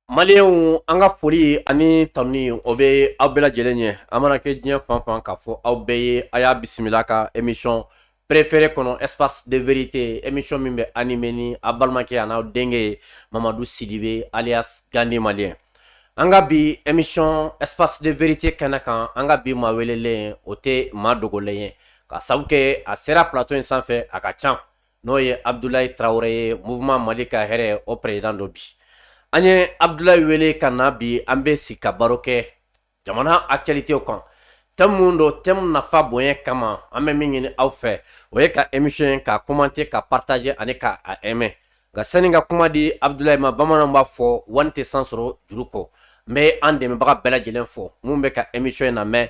Maliyɛnw an ka foli ani tanuni o bɛ aw bɛɛ lajɛlen ye a mana kɛ diɲɛ fan fan k'a fɔ aw bɛɛ ye a y'a bisimila ka émission préférée kɔnɔ espace de vérité émission min bɛ animé ni a balimakɛ an'aw denkɛ ye mamadu sidibe alias gandi maliyɛn an ka bi émission espace de vérité kɛnɛ kan an ka bi maa welelen o tɛ maa dogolen ye ka sabu kɛ a sera plateau in sanfɛ a ka ca n'o ye abudulayi tarawele ye mouvement mali ka hɛrɛ o président don bi an ye abudulayi wele ka na bi an bɛ sigi ka baro kɛ jamana actualité kan thème minnu don thème nafa bonya kama an bɛ min ɲini aw fɛ o ye ka émission ye k'a commenter k'a partager ani k'a aimer nka sani ka kuma di abudulayi ma bamanan b'a fɔ wani tɛ san sɔrɔ juru kɔ n bɛ an dɛmɛbaga bɛɛ lajɛlen fo minnu bɛ ka émission in lamɛn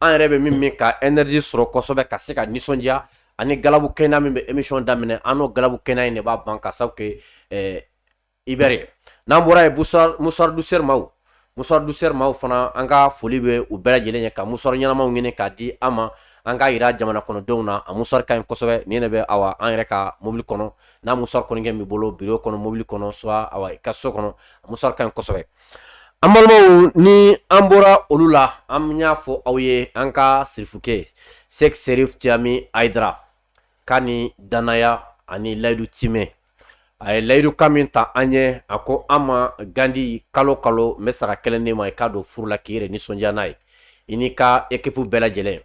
an yɛrɛ bɛ min min ka énergie sɔrɔ kosɛbɛ ka se ka nisɔndiya ani galabu kɛnɛya min bɛ émission daminɛ an n'o galabu kɛnɛya in de b'a ban ka sabu kɛ ɛɛ Iber ye n'an bɔra yen mouchoir mouchoir Douceur maaw mouchoir Douceur maaw fana an ka foli bɛ u bɛɛ lajɛlen ye ka mouchoir ɲɛnamaw ɲini k'a di an ma an k'a yira jamana kɔnɔdenw na a mouchoir ka ɲi kosɛbɛ nin de bɛ awa an yɛrɛ ka mobili kɔnɔ n'a mouchoir kɔni kɛ b'i bolo bureau kɔnɔ mobili kɔnɔ soit awa i ka so kɔnɔ mouchoir ka ɲi kosɛbɛ An balimaw ni an bɔra olu la an y'a fɔ aw ye an ka sirifukɛ sɛki serifu cayami ayidara ka ni danaya ani layidu timɛ a ye layidu kan min ta an ye a ko an ma gandi kalo kalo n bɛ saga kelen d'i ma i k'a don furu la k'i yɛrɛ nisɔndiya n'a ye i n'i ka équipe bɛɛ lajɛlen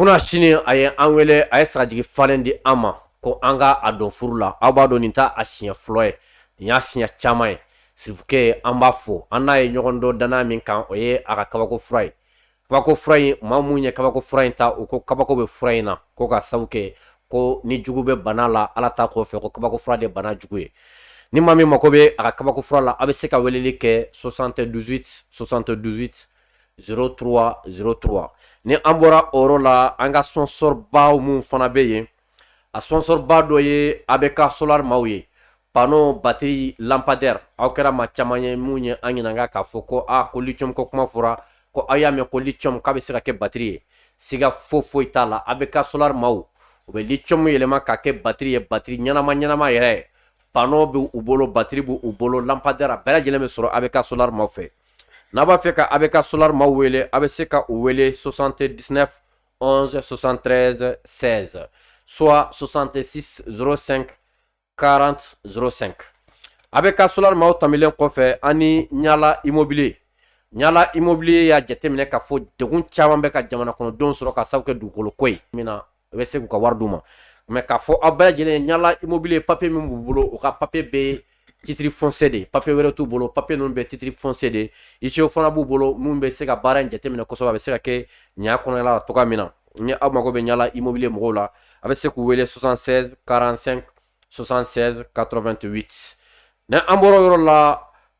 Kunasini a ye an wele a ye sagajigi falen di an ma ko an k'a don furu la aw b'a dɔn nin t'a siɲɛ fɔlɔ ye nin y'a siɲɛ caman ye sirifukɛ an b'a fɔ an n'a ye ɲɔgɔn dɔn danaya min kan o ye a ka kabako fura ye kabako fura in maa minnu ye kabako fura in ta u ko kabako bɛ fura in na ko ka sabu kɛ ko ni jugu bɛ bana la ala ta kɔfɛ ko kabako fura de bana jugu ye ni maa min mako bɛ a ka kabako fura la a bɛ se ka weleli kɛ 78 78 03 03 ni an bɔra o yɔrɔ la an ka sponsor baw minnu fana bɛ yen a sponsor ba dɔ ye ABK Solar maaw ye panneau batterie lampadaire aw kɛra maa caman ye minnu ye an ɲininka k'a fɔ ko a ko lithium ko kuma fɔra ko aw y'a mɛn ko lithium k'a bɛ se ka kɛ batterie ye siga fo foyi t'a la ABK Solar maaw u bɛ lithium yɛlɛma ka kɛ batterie ye batterie ɲɛnama ɲɛnama yɛrɛ ye panneau bɛ u bolo batterie b'u bolo lampadaire bɛɛ lajɛlen bɛ sɔrɔ ABK Solar maaw fɛ n'a b'a fɛ ka ABK Solar maaw wele a bɛ se ka u wele 79 11 73 16 soit 66 05 40 05 ABK Solar maaw tamilen kɔfɛ ani ɲala immobilier ɲala immobilier y'a jateminɛ k'a fɔ degun caman bɛ ka jamana kɔnɔdenw sɔrɔ ka sabu kɛ dugukolo ko ye min na u bɛ se k'u ka wari d'u ma mɛ k'a fɔ aw bɛɛ lajɛlen ye Ɲala Immobilier papiye min b'u bolo u ka papiye bɛɛ titre foncier de papiye wɛrɛ t'u bolo papiye ninnu bɛɛ titre foncier de huissierw fana b'u bolo minnu bɛ se ka baara in jateminɛ kosɛbɛ a bɛ se ka kɛ ɲa kɔnɔla cogo min na ni aw mago bɛ Ɲala Immobilier mɔgɔw la a bɛ se k'u wele 76 45 76 88 ni an bɔra yɔrɔ la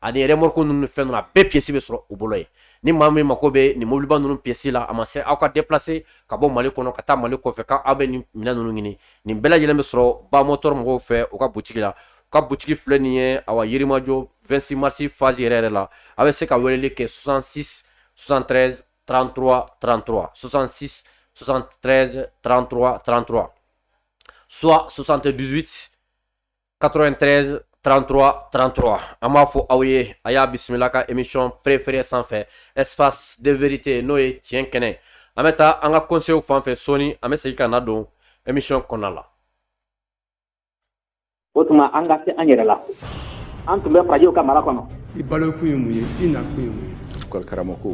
ani remorque ninnu fɛn ninnu a bɛɛ pièce bɛ sɔrɔ u bolo yen ni maa min mako bɛ nin mobiliba ninnu pièce la a ma se aw ka déplacer ka bɔ Mali kɔnɔ ka taa Mali kɔfɛ ka aw bɛ nin minɛn ninnu ɲini nin bɛɛ lajɛlen bɛ sɔrɔ Ba Motor mɔgɔw fɛ u ka butigi la u ka butigi filɛ nin ye awa Yirimajɔ 26 mars face yɛrɛ yɛrɛ la a bɛ se ka weleli kɛ 66 73 33 33 66 73 33 33 soit 78 93 33 33 an b'a fɔ aw ye a y'a bisimila ka émission préférée sanfɛ espace de vérité n'o ye tiɲɛ kɛnɛ an bɛ taa an ka conseil fan fɛ sɔɔni an bɛ segin ka na don émission kɔnɔna la o tuma an ka se an yɛrɛ la an tun bɛ farajɛw ka mara kɔnɔ i balo kun ye mun ye i na kun ye mun ye karamɔgɔ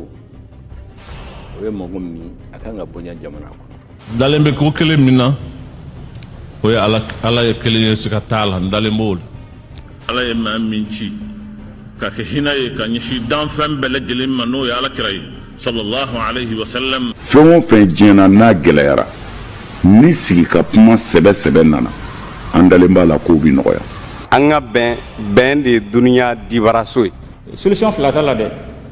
o ye mɔgɔ min a kan ka bonya jamana kɔnɔ dalen bɛ ko kelen min na o ye ala ye kelen ye siga t'a la n dalen b'o la ala ye maa min ci ka kɛ hinɛ ye ka ɲɛsin danfɛn bɛɛ lajɛlen ma n'o ye ala kira ye sallallahu alaihi wasallam fɛn o fɛn diɲɛ na n'a gɛlɛyara ni sigi ka kuma sɛbɛ sɛbɛ nana an dalen b'a la k'o bi nɔgɔya an ka bɛn bɛn de ye duniya dibaraso ye solution fila t'a la dɛ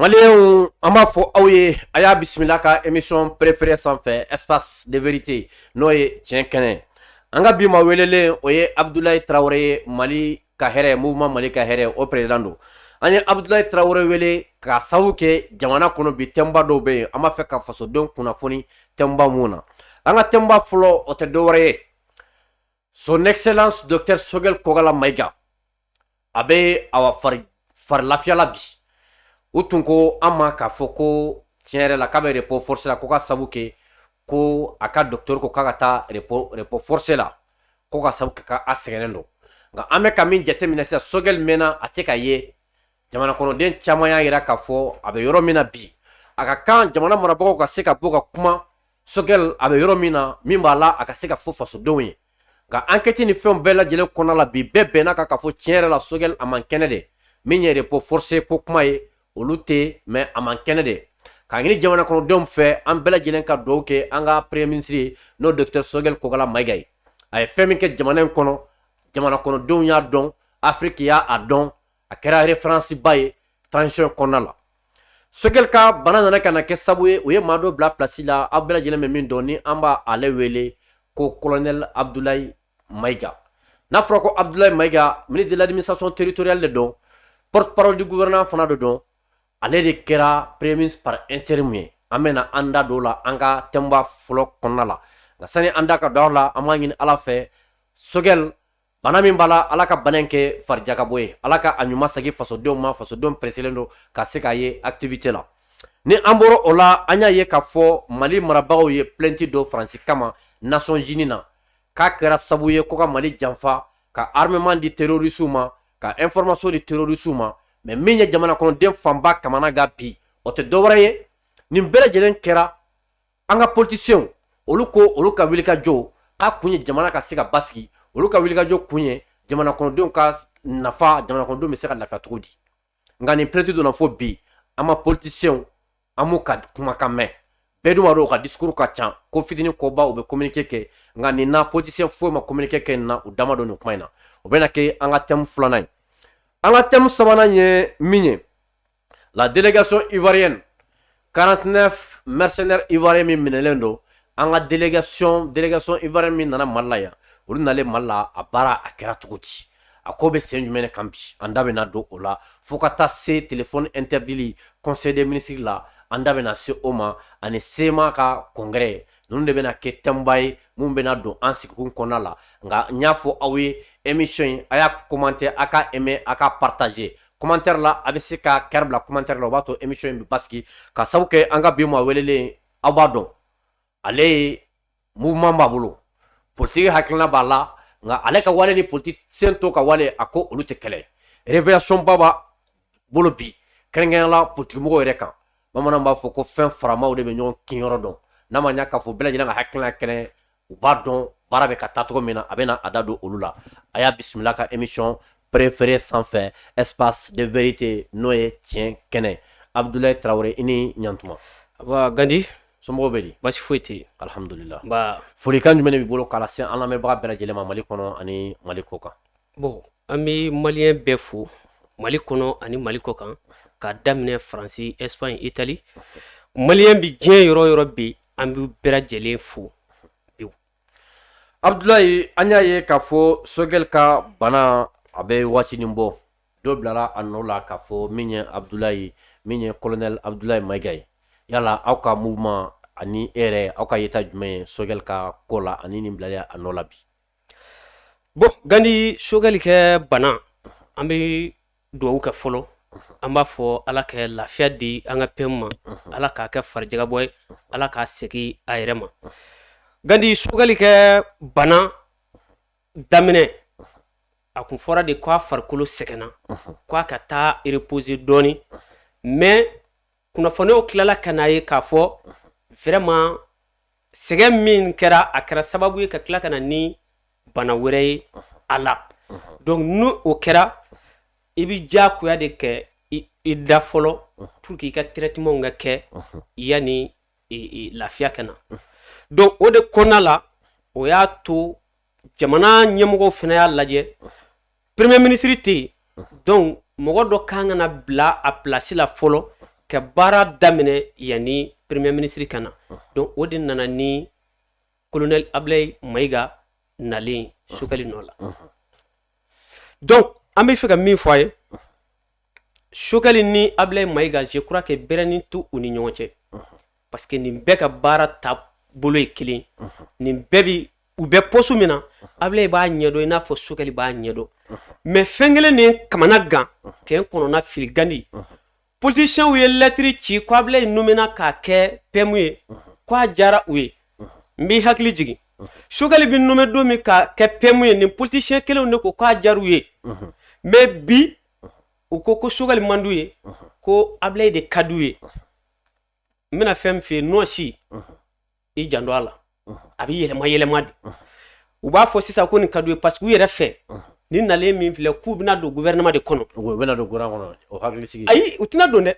Malienw an b'a fɔ aw ye a y'a bisimila ka émission préférée sanfɛ espace de vérité n'o ye tiɲɛ kɛnɛ an ka bi maa welelen o ye Abdoulaye Traoré ye Mali ka hɛrɛ mouvement Mali ka hɛrɛ o président don an ye Abdoulaye Traoré wele ka sababu kɛ jamana kɔnɔ bi tɛmba dɔw bɛ yen an b'a fɛ ka fasodenw kunnafoni tɛmba minnu na an ka tɛmba fɔlɔ o tɛ dɔwɛrɛ ye son excellence docteur Choguel Kokalla Maïga a bɛ a fari lafiya la bi u tun ko an ma k'a fɔ ko tiɲɛ yɛrɛ la k'a bɛ repos forcé la ko ka sabu kɛ ko a ka docteur ko k'a ka taa repos forcé la ko ka sabu kɛ k'a sɛgɛnnen don nka an bɛ ka min jateminɛ sisan Choguel mɛnna a tɛ ka ye jamana kɔnɔden caman y'a jira k'a fɔ a bɛ yɔrɔ min na bi a ka kan jamana marabagaw ka se ka bɔ ka kuma Choguel a bɛ yɔrɔ min na min b'a la a ka se ka fɔ fasodenw ye nka enquête ni fɛnw bɛɛ lajɛlen kɔnɔna la bi bɛɛ bɛnna kan k'a fɔ tiɲɛ yɛrɛ la Choguel a man kɛnɛ de min ye repos forcé ko kuma ye olu tɛ mais a man kɛnɛ de k'a ɲini jamana kɔnɔdenw fɛ an bɛɛ lajɛlen ka duwa kɛ an ka premier ministre ye n'o docteur sogɛl kokala mayiga ye a ye fɛn min kɛ jamana in kɔnɔ jamana kɔnɔdenw y'a dɔn afiriki y'a dɔn a kɛra referansiba ye transition kɔnɔna la sogɛl ka bana nana ka na kɛ sabu ye u ye maa dɔ bila pilasi la aw bɛɛ lajɛlen bɛ min dɔn ni an bɛ ale wele ko kolonɛl abdulayi mayiga n'a fɔra ko abudulayi mayiga ministre de l'administration territoriale de don porte-parole du gouvernement fana de don ale de kɛra premier ministre par intérim ye an bɛna an da don o la an ka thème ba fɔlɔ kɔnɔna la nka sani an da ka don o la an b'a ɲini ala fɛ sogɛli bana min b'a la ala ka bana in kɛ farijakabɔ ye ala ka a ɲuman segin fasodenw ma fasodenw preselen don ka se k'a ye activité la ni an bɔra o la an y'a ye k'a fɔ mali marabagaw ye plainte don faransi kama nations unies na k'a kɛra sabu ye ko ka Mali janfa ka armement di terroristes ma ka information di terroristes ma mais min ye jamana kɔnɔden fanba kamana gan bi o tɛ dɔwɛrɛ ye nin bɛɛ lajɛlen kɛra an ka politiciens olu ko olu ka wulikajɔ k'a kun ye jamana ka se ka basigi olu ka wulikajɔ kun ye jamana kɔnɔdenw ka nafa jamana kɔnɔdenw bɛ se ka lafiya cogo di nka nin plainte donna fo bi an ma politisiyɛnw an m'u ka kumakan mɛn bɛɛ dun b'a dɔn u ka discours ka ca ko fitini koba u bɛ communiqué kɛ nka nin na politisiyɛn foyi ma communiqué kɛ nin na u da ma don nin kuma in na o bɛna kɛ an ka thème filanan ye an ka thème sabanan ye min ye la délégation ivoirienne 49 mercenaires ivoiriens min minɛlen don an ka délégation délégation ivoirienne min nana Mali la yan olu nalen Mali la a baara a kɛra cogo di a ko bɛ sen jumɛn de kan bi an da bɛna don o la fo ka taa se téléphone interdili conseil des ministres la an da bɛna se o ma ani CMA ka congrès ninnu de bɛna kɛ thème ba ye min bɛna don an sigikun kɔnɔna la nka n y'a fɔ aw ye émission in a y'a commenter a ka aimer a ka partager commentaire la a bɛ se ka cœur bila commentaire la o b'a to émission in bɛ basigi ka sabu kɛ an ka bi maa welelen aw b'a dɔn ale ye mouvement b'a bolo politique hakilina b'a la nka ale ka wale ni politicien tɔw ka wale a ko olu tɛ kelen révélation ba b'a bolo bi kɛrɛnkɛrɛnya la politique mɔgɔw yɛrɛ kan bamananw b'a fɔ ko fɛn faramaw de bɛ ɲɔgɔn kinyɔrɔ dɔn n'a ma ɲa k'a fɔ bɛɛ lajɛlen ka hakilina kelen u b'a dɔn baara bɛ ka taa cogo min na a bɛna a da don olu la a y'a bisimila ka émission préférée sanfɛ espace de vérité n'o ye tiɲɛ kɛnɛ abudulayi tarawele i ni ɲatuma gandi somɔgɔw bɛ di basi foyi tɛ alihamdulila folikan jumɛn b'i bolo ka lase an lamɛnbaga bɛɛ lajɛlen ma mali kɔnɔ ani mali kɔ kan bon an bɛ maliyɛn bɛɛ fo mali kɔnɔ ani mali kɔ kan ka daminɛ faransi espaɲi itali maliyɛn bɛ diɲɛ yɔrɔ yɔrɔ bɛ an bɛ bɛɛ lajɛlen fo abudulayi an y'a ye k'a fɔ sokɛli ka bana a bɛ waatini bɔ dɔ bilara a nɔ la k'a fɔ min ye abudulayi min ye colonel abudulayi mayiga ye yala aw ka mouvement ani e yɛrɛ aw ka yeta jumɛn ye sokɛli ka ko la ani nin bilala a nɔ la bi bon gandi sokɛli ka bana an bɛ dugawu kɛ fɔlɔ an b'a fɔ ala ka lafiya di an ka PM ma ala k'a kɛ farijagabɔ ye ala k'a segin a yɛrɛ ma gandi sokɛli ka bana daminɛ a tun fɔra de k'a farikolo sɛgɛnna k'a ka taa reposer dɔɔnin mais kunnafoniw tilala ka n'a ye k'a fɔ vraiment sɛgɛn min kɛra a kɛra sababu ye ka tila ka na ni bana wɛrɛ ye a la donc ni o kɛra i bɛ diyagoya de kɛ i da fɔlɔ pour que i ka traitement ka kɛ yanni lafiya ka na donc o de kɔnɔna la o y'a to jamana ɲɛmɔgɔw fana y'a lajɛ premier ministre tɛ yen donc mɔgɔ dɔ kan ka na bila a pilasi la fɔlɔ ka baara daminɛ yanni premier ministre ka na donc o de nana ni colonel Abilaye Mayiga nalen sokɛli nɔ la donc an bɛ fɛ ka min fɔ a ye sokɛli ni ablayi mayiga je crois que bɛrɛnin t'u ni ɲɔgɔn cɛ parce que nin bɛɛ ka baara taabolo ye kelen nin bɛɛ bi u bɛ poste min na ablayi b'a ɲɛdɔn i n'a fɔ sokɛli b'a ɲɛdɔn mais fɛn kelen ye n kamana gan ka n kɔnɔna fili gandi politiciens ye lettre ci ko ablayi nomena k'a kɛ PM ye k'a diyara u ye n b'i hakili jigin sokɛli bɛ nommé don min k'a kɛ PM ye nin politicien kelenw de ko k'a diyara u ye mais bi u ko ko sogɛli man d'u ye ko abilayi de ka d'u ye n bɛna fɛn min f'i ye nɔɔsi i janto a la a bɛ yɛlɛma yɛlɛma de u b'a fɔ sisan ko nin ka d'u ye parce que u yɛrɛ fɛ nin nalen min filɛ k'u bɛna don gouvernement de kɔnɔ u bɛna don gouvernement kɔnɔ o hakili sigi ayi u tɛna don dɛ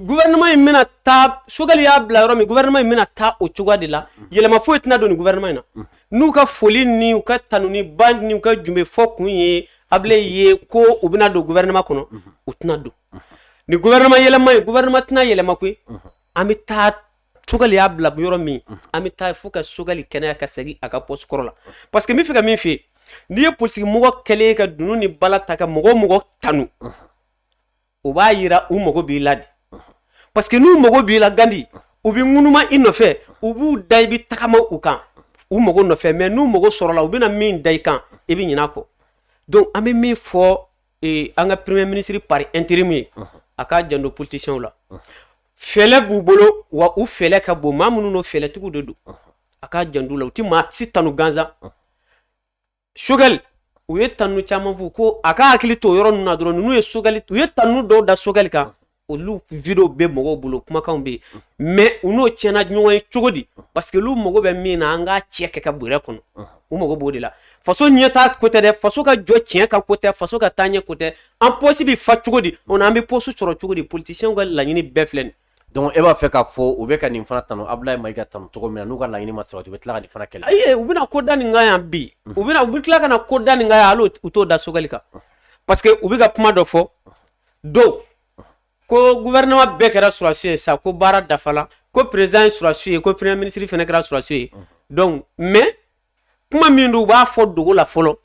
gouvernement in bɛna taa sogɛli y'a bila yɔrɔ min gouvernement in bɛna taa o cogoya de la yɛlɛma foyi tɛna don nin gouvernement in na n'u ka foli ni u ka tanuni ba ni u ka jenbe fɔ kun ye abilayi ye ko u bɛna don gouvernement kɔnɔ u tɛna don ni gouvernement yɛlɛma ye gouvernement tɛna yɛlɛma koyi an bɛ taa sogɛli y'a bila yɔrɔ min an bɛ taa fo ka sogɛli kɛnɛya ka segin a ka poste kɔrɔ la parce que n bɛ fɛ ka min f'i ye n'i ye politiki mɔgɔ kɛlen ye ka dunun ni bala ta ka mɔgɔ mɔgɔ tanu o b'a yira u mago b'i la de parce que n'u mago b'i la gandi u bɛ ŋunuma i nɔfɛ u b'u da i bɛ tagama u kan u mago nɔfɛ mais n'u mago sɔrɔla u bɛna min da i kan i bɛ ɲin'a kɔ donc an bɛ min fɔ e, an ka premier ministre par intérim ye a k'a janto politiciens la fɛlɛ b'u bolo wa u fɛlɛ ka bon maa minnu n'o fɛlɛtigiw de don a k'a janto u la u tɛ maa si tanu gansan Sogɛl u ye tanu caman fɔ ko a ka hakili to yɔrɔ ninnu na dɔrɔn ninnu ye Sogɛl u ye tanu dɔw da Sogɛl kan olu video bɛ mɔgɔw bolo kumakanw bɛ yen mais u n'o tiɲɛna ɲɔgɔn ye cogo di parce que olu mago bɛ min na an k'a cɛ kɛ ka bɔrɛ kɔnɔ u mago b'o de la faso ɲɛtaa ko tɛ dɛ faso ka jɔ tiɲɛ kan ko tɛ faso ka taa ɲɛ ko tɛ an pɔsi bɛ fa cogo di o an bɛ poste sɔrɔ cogo di politisiyɛnw ka laɲini bɛɛ filɛ nin donc e b'a fɛ k'a fɔ u bɛ ka nin fana tanu Ablaye Mayiga tanu cogo min na n'u ka laɲini ma sabati u bɛ tila ka nin fana kɛlɛ ayi u bɛna ko da nin kan yan bi u bɛna u bɛ tila ka na ko da nin kan yan hali u t'o da Sogɛl kan parce que u bɛ ka kuma dɔ fɔ don ko gouvernement bɛɛ kɛra sɔrɔdasi ye sa ko baara dafala ko président ye sɔrɔdasi ye ko premier ministre fana kɛra sɔrɔdasi ye donc mais kuma min don u b'a fɔ dogo la fɔlɔ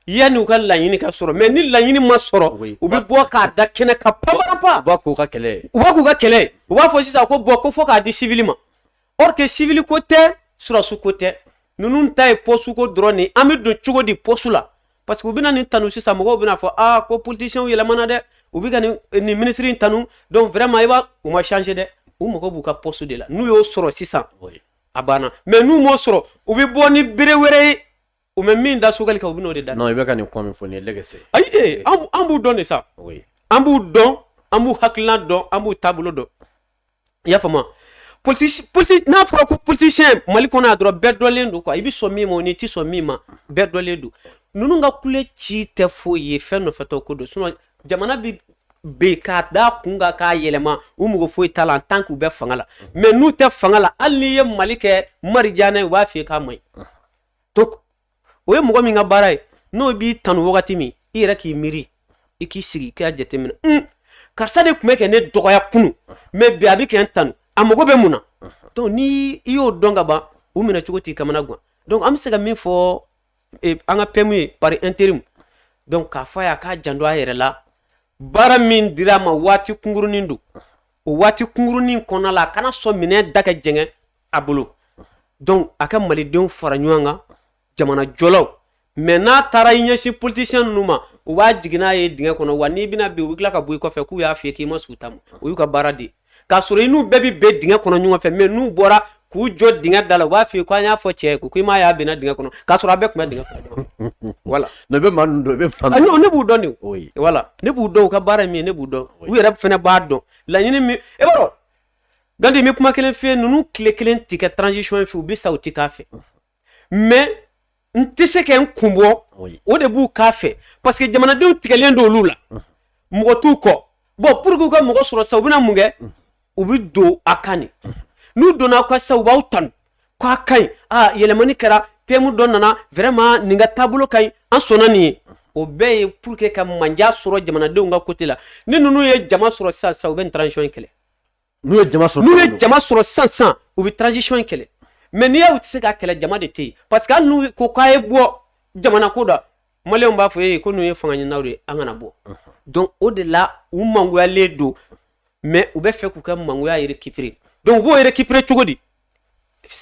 yanni u ka laɲini ka sɔrɔ mais ni laɲini ma sɔrɔ u bɛ bɔ k'a da kɛnɛ kan panpap u b'a k'u ka kɛlɛ u b'a k'u ka kɛlɛ u b'a fɔ sisan ko bon ko fo k'a di civil ma or que civil ko tɛ sɔrɔdasi ko tɛ ninnu ta ye poste ko dɔrɔn nin an bɛ don cogo di poste la parce que u bɛna nin tanu sisan mɔgɔw bɛna fɔ aa ko politisiyɛnw yɛlɛmana dɛ u bɛ ka nin nin minisiri in tanu donc vraiment i b'a u ma changer dɛ u mago b'u ka poste de la n'u y'o sɔrɔ sisan a banna mais n'u m'o sɔrɔ u bɛ bɔ ni bere wɛrɛ ye u bɛ min da Sogɛl kan u bɛn'o de da non i bɛ ka nin kuma min fɔ nin ye lɛgɛsɛ ayi ee an b'u dɔn de sa oui an b'u dɔn an b'u hakilina dɔn an b'u taabolo dɔn i y'a faamu n'a fɔra ko politisiyɛn mali kɔnɔ yan dɔrɔn bɛɛ dɔnnen don quoi i bɛ sɔn min ma o n'i tɛ sɔn min ma bɛɛ dɔnnen don ninnu ka kule ci tɛ foyi ye fɛn nɔfɛtɔ ko don jamana bɛ bin k'a da kun kan k'a yɛlɛma u mago foyi t'a la en tant que u bɛ fanga la mais n'u tɛ fanga la hali n'i ye mali kɛ arijinɛ ye u b'a f'i ye k'a man ɲi donc o ye mɔgɔ min ka baara ye n'o b'i tanu wagati min i yɛrɛ k'i miiri i k'i sigi k'a jateminɛ un karisa de tun bɛ ka ne dɔgɔya kunun mais bi a bɛ ka n tanu a mago bɛ mun na donc ni i y'o dɔn ka ban u minɛ cogo t'i kamana gan donc an bɛ se ka min fɔ an ka PM ye par intérim donc k'a fɔ a ye a k'a janto a yɛrɛ la baara min dira a ma waati kunkurunnin don o waati kunkurunnin kɔnɔna la a kana sɔn minɛn da ka jɛngɛ a bolo donc a ka malidenw fara ɲɔgɔn kan jamanajɔlaw mais n'a taara i ɲɛsin politisiyɛn ninnu ma u bɛ jigin n'a ye dingɛ kɔnɔ wa n'i binna bi u bɛ tila ka bɔ i kɔfɛ k'u y'a fɔ k'i ma sɔn u ta ma o y'u ka baara de k'a sɔrɔ i n'u bɛɛ bɛ bin dingɛ kɔnɔ ɲɔgɔn fɛ mais n'u bɔra k'u jɔ dingɛ da la u b'a f'i ye ko an y'a fɔ cɛ ye ko i m'a y'a binna dingɛ kɔnɔ k'a sɔrɔ a bɛɛ tun bɛ dingɛ kɔnɔ voilà ne bɛ maa ninnu dɔn bɛ ah, ne b'u dɔn de voilà ne b'u dɔn u ka baara ye min ye ne b'u dɔn u yɛrɛ fana b'a dɔn laɲini min e b'a dɔn gandi n bɛ kuma kelen f'i ye ninnu tile kelen tɛ kɛ transition fɛ u bɛ sa u tɛ k'a fɛ mais n tɛ se ka n kun bɔ o de b'u k'a fɛ parce que jamanadenw tigɛlen don olu la mɔgɔ t'u kɔ bon pour que u ka mɔgɔ sɔrɔ sa u bɛna mun kɛ u bɛ don a kan de n'u donna aw kan sisan u b'aw tanu k'a ka ɲi aa yɛlɛmani kɛra PM dɔ nana vraiment nin ka taabolo ka ɲi an sɔnna nin ye o bɛɛ ye pour que ka manja sɔrɔ jamanadenw ka côté la ni ninnu ye jama sɔrɔ sisan sa u bɛ nin transition in kɛlɛ n'u ye jama sɔrɔ sisan sisan u bɛ transition in kɛlɛ mais n'i y'a u tɛ se k'a kɛlɛ jama de tɛ yen parce que hali n'u ko k'a ye bɔ jamana ko don maliyɛnw b'a fɔ ee ko ninnu ye fanga ɲininaw de ye an kana bɔ donc o de la u mangoyalen don mais u bɛ fɛ k'u ka mangoya récupérer donc u b'o récupérer cogo di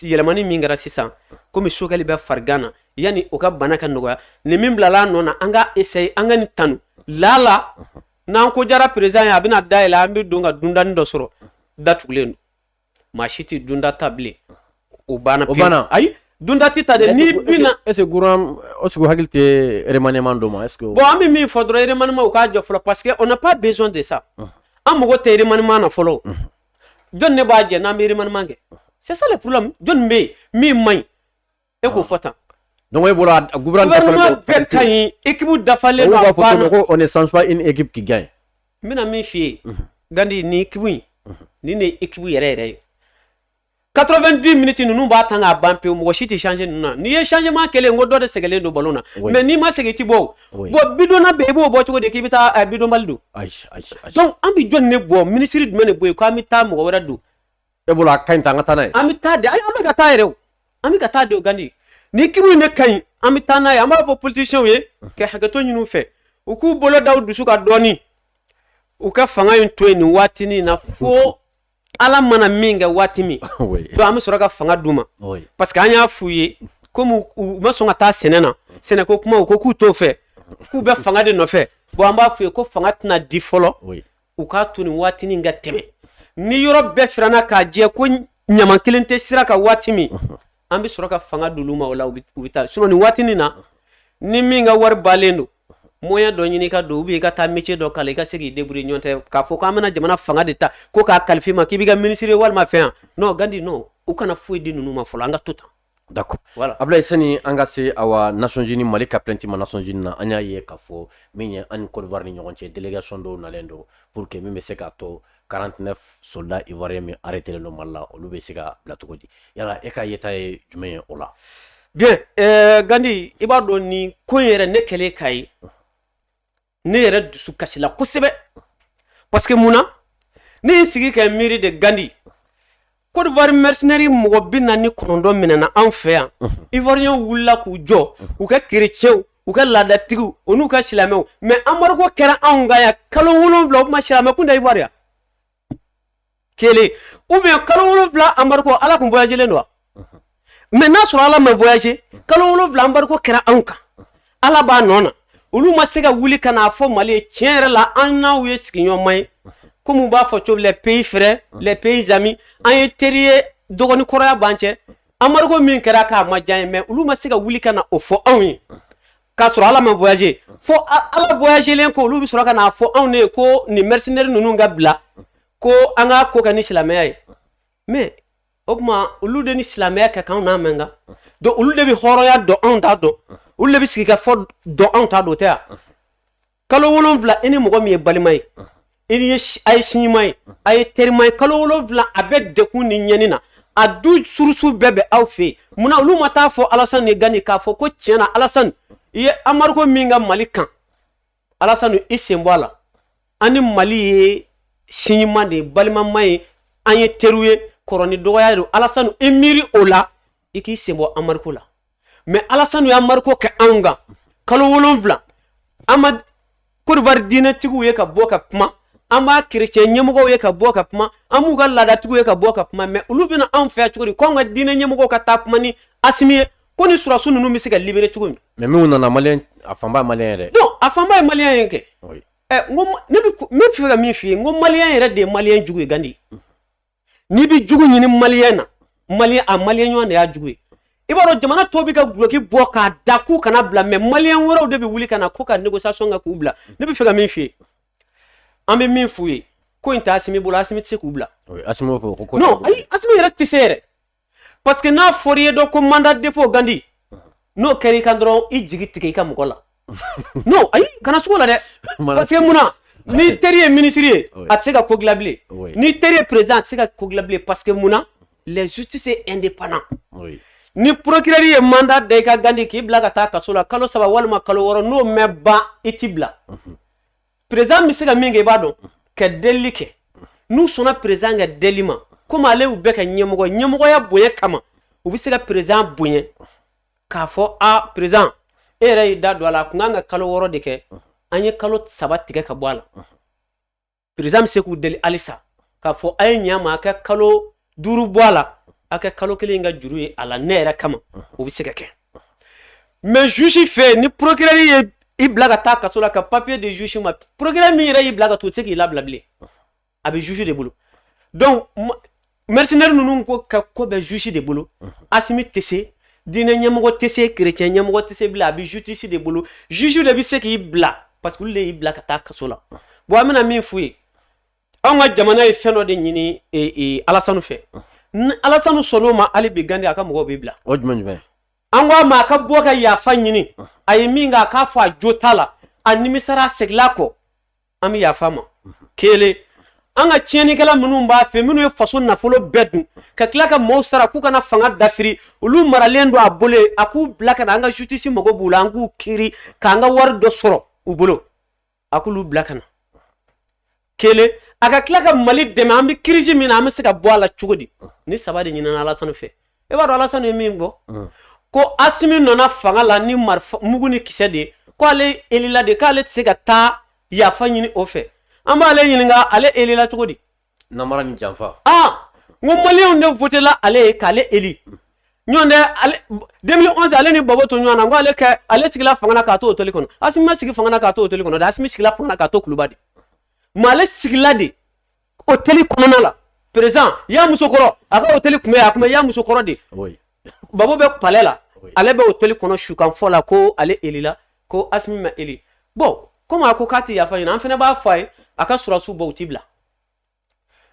yɛlɛmani min kɛra sisan komi choguel bɛ farigan na yanni o ka bana ka nɔgɔya nin min bilala a nɔ na an ka essayer an ka nin tanu lala n'an ko diyara président ye a bɛna da yɛlɛ an bɛ don ka dundani dɔ sɔrɔ datugulen don maa si tɛ dunda ta bilen o banna o banna ayi dunda tɛ ta dɛ n'i bɛna est ce que gouvernement est ce que hakili tɛ remaniement dɔ ma est ce que bon an bɛ min fɔ dɔrɔn remaniement u k'a jɔ fɔlɔ parce que on n'a pas besoin de ça an mago tɛ remaniement na fɔlɔ jɔn de b'a jɛ n'an bɛ remaniement kɛ c'est ça le problème jɔn bɛ yen min man ɲi e k'o fɔ tan donc e bolo a gouvernement gouvernement bɛɛ ka ɲi équipe dafalen don a banna ko on ne change pas une équipe qui gagne n bɛna min f'i ye gandi nin équipe in nin de ye équipe yɛrɛ yɛrɛ ye 90 minutes ninnu b'a tan k'a ban pewu mɔgɔ si tɛ changer ninnu na n'i ye changement kɛlen n ko dɔ de sɛgɛnlen don ballon na mais n'i ma sɛgɛn i tɛ bɔ o bon bidonna bɛ i b'o bɔ cogo di k'i bɛ taa eh, bidonbali don donc an bɛ jɔni de bɔ minisiri jumɛn de bɔ yen ko an bɛ taa mɔgɔ wɛrɛ don e bolo a ka ɲi tan an ka taa n'a ye an bɛ taa de ayi an bɛ ka taa yɛrɛ o an bɛ ka taa de o gandi nin équipe in de ka ɲi an bɛ taa n'a ye an b'a fɔ politiciens ye ka hakɛto ɲini u fɛ u k'u bolo da u dusu kan dɔɔni u ka fanga in to yen nin waatinin na fo ala mana min kɛ waati min donc an bɛ sɔrɔ ka fanga d'u ma parce que an y'a f'u ye komi u ma sɔn ka taa sɛnɛ na sɛnɛ ko kuma u ko k'u t'o fɛ k'u bɛ fanga de nɔfɛ bon an b'a f'u ye ko fanga tɛna di fɔlɔ u k'a to nin waati nin ka tɛmɛ ni yɔrɔ bɛɛ firanna k'a jɛ ko ɲama kelen tɛ sira kan waati min an bɛ sɔrɔ ka fanga d'olu ma o la u bɛ taa sinon nin waati nin na ni min ka wari balen don moyen dɔ ɲini ka don ou bien i ka taa métier dɔ kalan i ka se k'i débrouiller n'o tɛ k'a fɔ k'an bɛna jamana fanga de ta ko k'a kalifa i ma k'i bɛ kɛ minisiri walima fɛn yan non gandi non u kana foyi di ninnu ma fɔlɔ an ka to tan d'accord voilà ablaye sani an ka se awa nations unies mali ka plainte ma nations unies na an y'a ye k'a fɔ min ye an ni côte d'ivoire ni ɲɔgɔn cɛ délégation dɔw nalen don pour que min bɛ se k'a to 49 soldats ivoiriens min arrêtélen don Mali la olu bɛ se ka bila cogo di yala e ka yeta ye jumɛn ye o la bien euh, Gandi i b'a dɔn nin ko in yɛrɛ ne kɛlen k'a ye ne yɛrɛ dusu kasila kosɛbɛ parce que mun na ne ye sigi ka miiri de Gandi Kodiwari mercenaires mɔgɔ binaani ni kɔnɔntɔn minɛna an fɛ yan ivoiriens wulila k'u jɔ u ka kerecɛnw u ka laadatigiw u n'u ka silamɛw mais embargo kɛra anw kan yan kalo wolonwula o tuma silamɛ kun tɛ Ivoire yan kelen ou bien kalo wolonwula embargo ala kun voyagelen don wa mais n'a sɔrɔ ala ma voyage kalo wolonwula embargo kɛra anw kan ala b'a nɔ na olu ma se ka wuli ka n'a fɔ mali ye tiɲɛ yɛrɛ la an n'aw ye sigiɲɔgɔnma ye komi u b'a fɔ cogo les pays frères les pays amis an ye teri ye dɔgɔni kɔrɔya b'an cɛ embargo min kɛra k'a ma diya ye mais olu ma se ka wuli ka na o fɔ anw ye k'a sɔrɔ ala ma voyage fo ala voyagelen ko olu bɛ sɔrɔ ka n'a fɔ anw ne ye ko nin mercenaire ninnu ka bila ko an ka ko kɛ ni silamɛya ye mais o tuma olu de ni silamɛya ka kan anw n'a man kan donc olu de bɛ hɔrɔnya dɔn anw t'a dɔn olu de bɛ sigi ka fɔ dɔn anw t'a dɔn tɛ yan kalo wolonwula i ni mɔgɔ min ye balima ye a ye sigiɲɔgɔnma ye a ye terima ye kalo wolonwula a bɛ degun ni ɲɛni na a ressources bɛɛ bɛ aw fɛ yen munna olu ma taa fɔ alasani de gandi k'a fɔ ko tiɲɛ na alasani i ye embargo min kɛ mali kan alasani i sen bɔ a la an ni mali ye sigiɲɔgɔnma de ye balimama ye an ye teriw ye kɔrɔ ni dɔgɔya don alasani i miiri o la i k'i sen bɔ embargo la mais alasani ye embargo kɛ anw kan kalo wolonwula an ma kodiwari diinɛtigiw ye ka bɔ ka kuma an m'a kerecɛn ɲɛmɔgɔw ye ka bɔ ka kuma an m'u ka laadatigiw ye ka bɔ ka kuma mais olu bɛ na anw fɛ cogo di ko anw ka diinɛ ɲɛmɔgɔw ka taa kuma ni asimi ye ko ni sɔrɔdasiw ninnu bɛ se ka libérer cogo min mais minnu nana maliyɛn a fanba ye maliyɛn yɛrɛ donc a fanba ye maliyɛn ye kɛ ɛ n ko ne bɛ ne bɛ fɛ ka min f'i ye n ko maliyɛn yɛrɛ de ye maliyɛn jugu ye gandi n'i bɛ jugu ɲini maliyɛn na maliyɛn a maliyɛn ɲɔgɔn de y'a jugu ye i b'a dɔn jamana tɔw bɛ ka duloki bɔ k'a da k'u kana bila mais maliyɛn wɛrɛw de bɛ wuli ka na ko ka négociation kɛ k'u bila ne bɛ fɛ ka min f'i ye an bɛ min f'u ye ko in tɛ asimi bolo asimi tɛ se k'u bila asimi b'a fɔ ko non ayi asimi yɛrɛ tɛ se yɛrɛ parce que n'a fɔra i ye dɔ ko mandat dépôt gandi n'o kɛra i kan dɔrɔn i jigi tigɛ i ka mɔgɔ la non ayi kana sugo a la dɛ parce que mun na n'i teri ye minisiri ye a tɛ se ka ko dilan bilen n'i teri ye président a tɛ se ka ko dilan bilen parce que mun na les justice est indépendant ni procureur ye mandat da i kan gandi k'i bila ka taa kaso la kalo saba walima kalo wɔɔrɔ n'o ma ban u t'i bila perezan bɛ se ka min kɛ i b'a dɔn ka delili kɛ n'u sɔnna perezan ka deli ma komi ale y'u bɛɛ ka ɲɛmɔgɔ ɲɛmɔgɔya bonya kama u bɛ se ka perezan bonya k'a fɔ a perezan e yɛrɛ y'i da don a la a kun kan ka kalo wɔɔrɔ de kɛ an ye kalo saba tigɛ ka bɔ a la perezan bɛ se k'u deli halisa k'a fɔ a ye ɲɛ a ma a ka kalo duuru bɔ a la a kɛ kalo kelen ka juru ye a la ne yɛrɛ kama o bɛ se ka kɛ mɛ zusi fɛ ni porokirɛri ye i bila ka taa kaso la ka papiye di zusi ma porokirɛri min yɛrɛ y'i bila ka taa o tɛ se k'i labila bilen a bɛ zusi de bolo donc mɛrisinɛri ninnu ko ka ko bɛ zusi de bolo asimi tɛ se diinɛ ɲɛmɔgɔ tɛ se kerecɛn ɲɛmɔgɔ tɛ se bilen a bɛ justice de bolo zusi de bɛ se k'i bila parce que olu de y'i bila ka taa kaso la bon an bɛna min f'u ye anw ka jamana ye fɛn dɔ de ɲini e, e, alasanu fɛ ni alasanu sɔnn'o ma hali bi gandi a ka mɔgɔw bɛ bila o jumɛn jumɛn an ko a ma a ka bɔ ka yafa ɲini a ye min kɛ a k'a fɔ a jo t'a la a nimisara a seginna a kɔ an bɛ yafa a ma kelen an ka tiɲɛnikɛla minnu b'a fɛ minnu ye faso nafolo bɛɛ dun ka tila ka mɔɔw sara k'u ka na fanga dafiri olu maralen don a bolo yen a k'u bila ka na an ka justice mago b'u la an k'u kiiri k'an ka wari dɔ sɔrɔ u bolo a k'olu bila ka na kelen a ka tila ka mali dɛmɛ an bɛ kirisi min na an bɛ se ka bɔ a la cogo di nin saba de ɲinina alasani fɛ e b'a dɔn alasani ye min fɔ ko asimi nana fanga la ni mugu ni kisɛ de ko ale elila de k'ale tɛ se ka taa yafa ɲini o fɛ an b'ale ɲininka ale elila cogo di Namara ni janfa aa n ko maliyɛnw de wotela ale ye k'ale eli n'o tɛ deux mille onze ale ni babo to ɲɔgɔn na ko ale kɛ ale sigila fanga na k'a to otɛli kɔnɔ asimi ma sigi fanga na k'a to otɛli kɔnɔ dɛ asimi sigila fanga na k'a to kuluba de mɛ ale sigila de otɛli kɔnɔna la perezan y'a muso kɔrɔ a ka otɛli tun bɛ a tun bɛ y'a muso kɔrɔ de babo bɛ palɛ la ale bɛ otɛli kɔnɔ sukan fɔ la ko ale elila ko asimi ma eli bɔn komi a ko k'a tɛ yafa ɲini an fana b'a fɔ a ye a ka surasiw bɔ u tɛ bila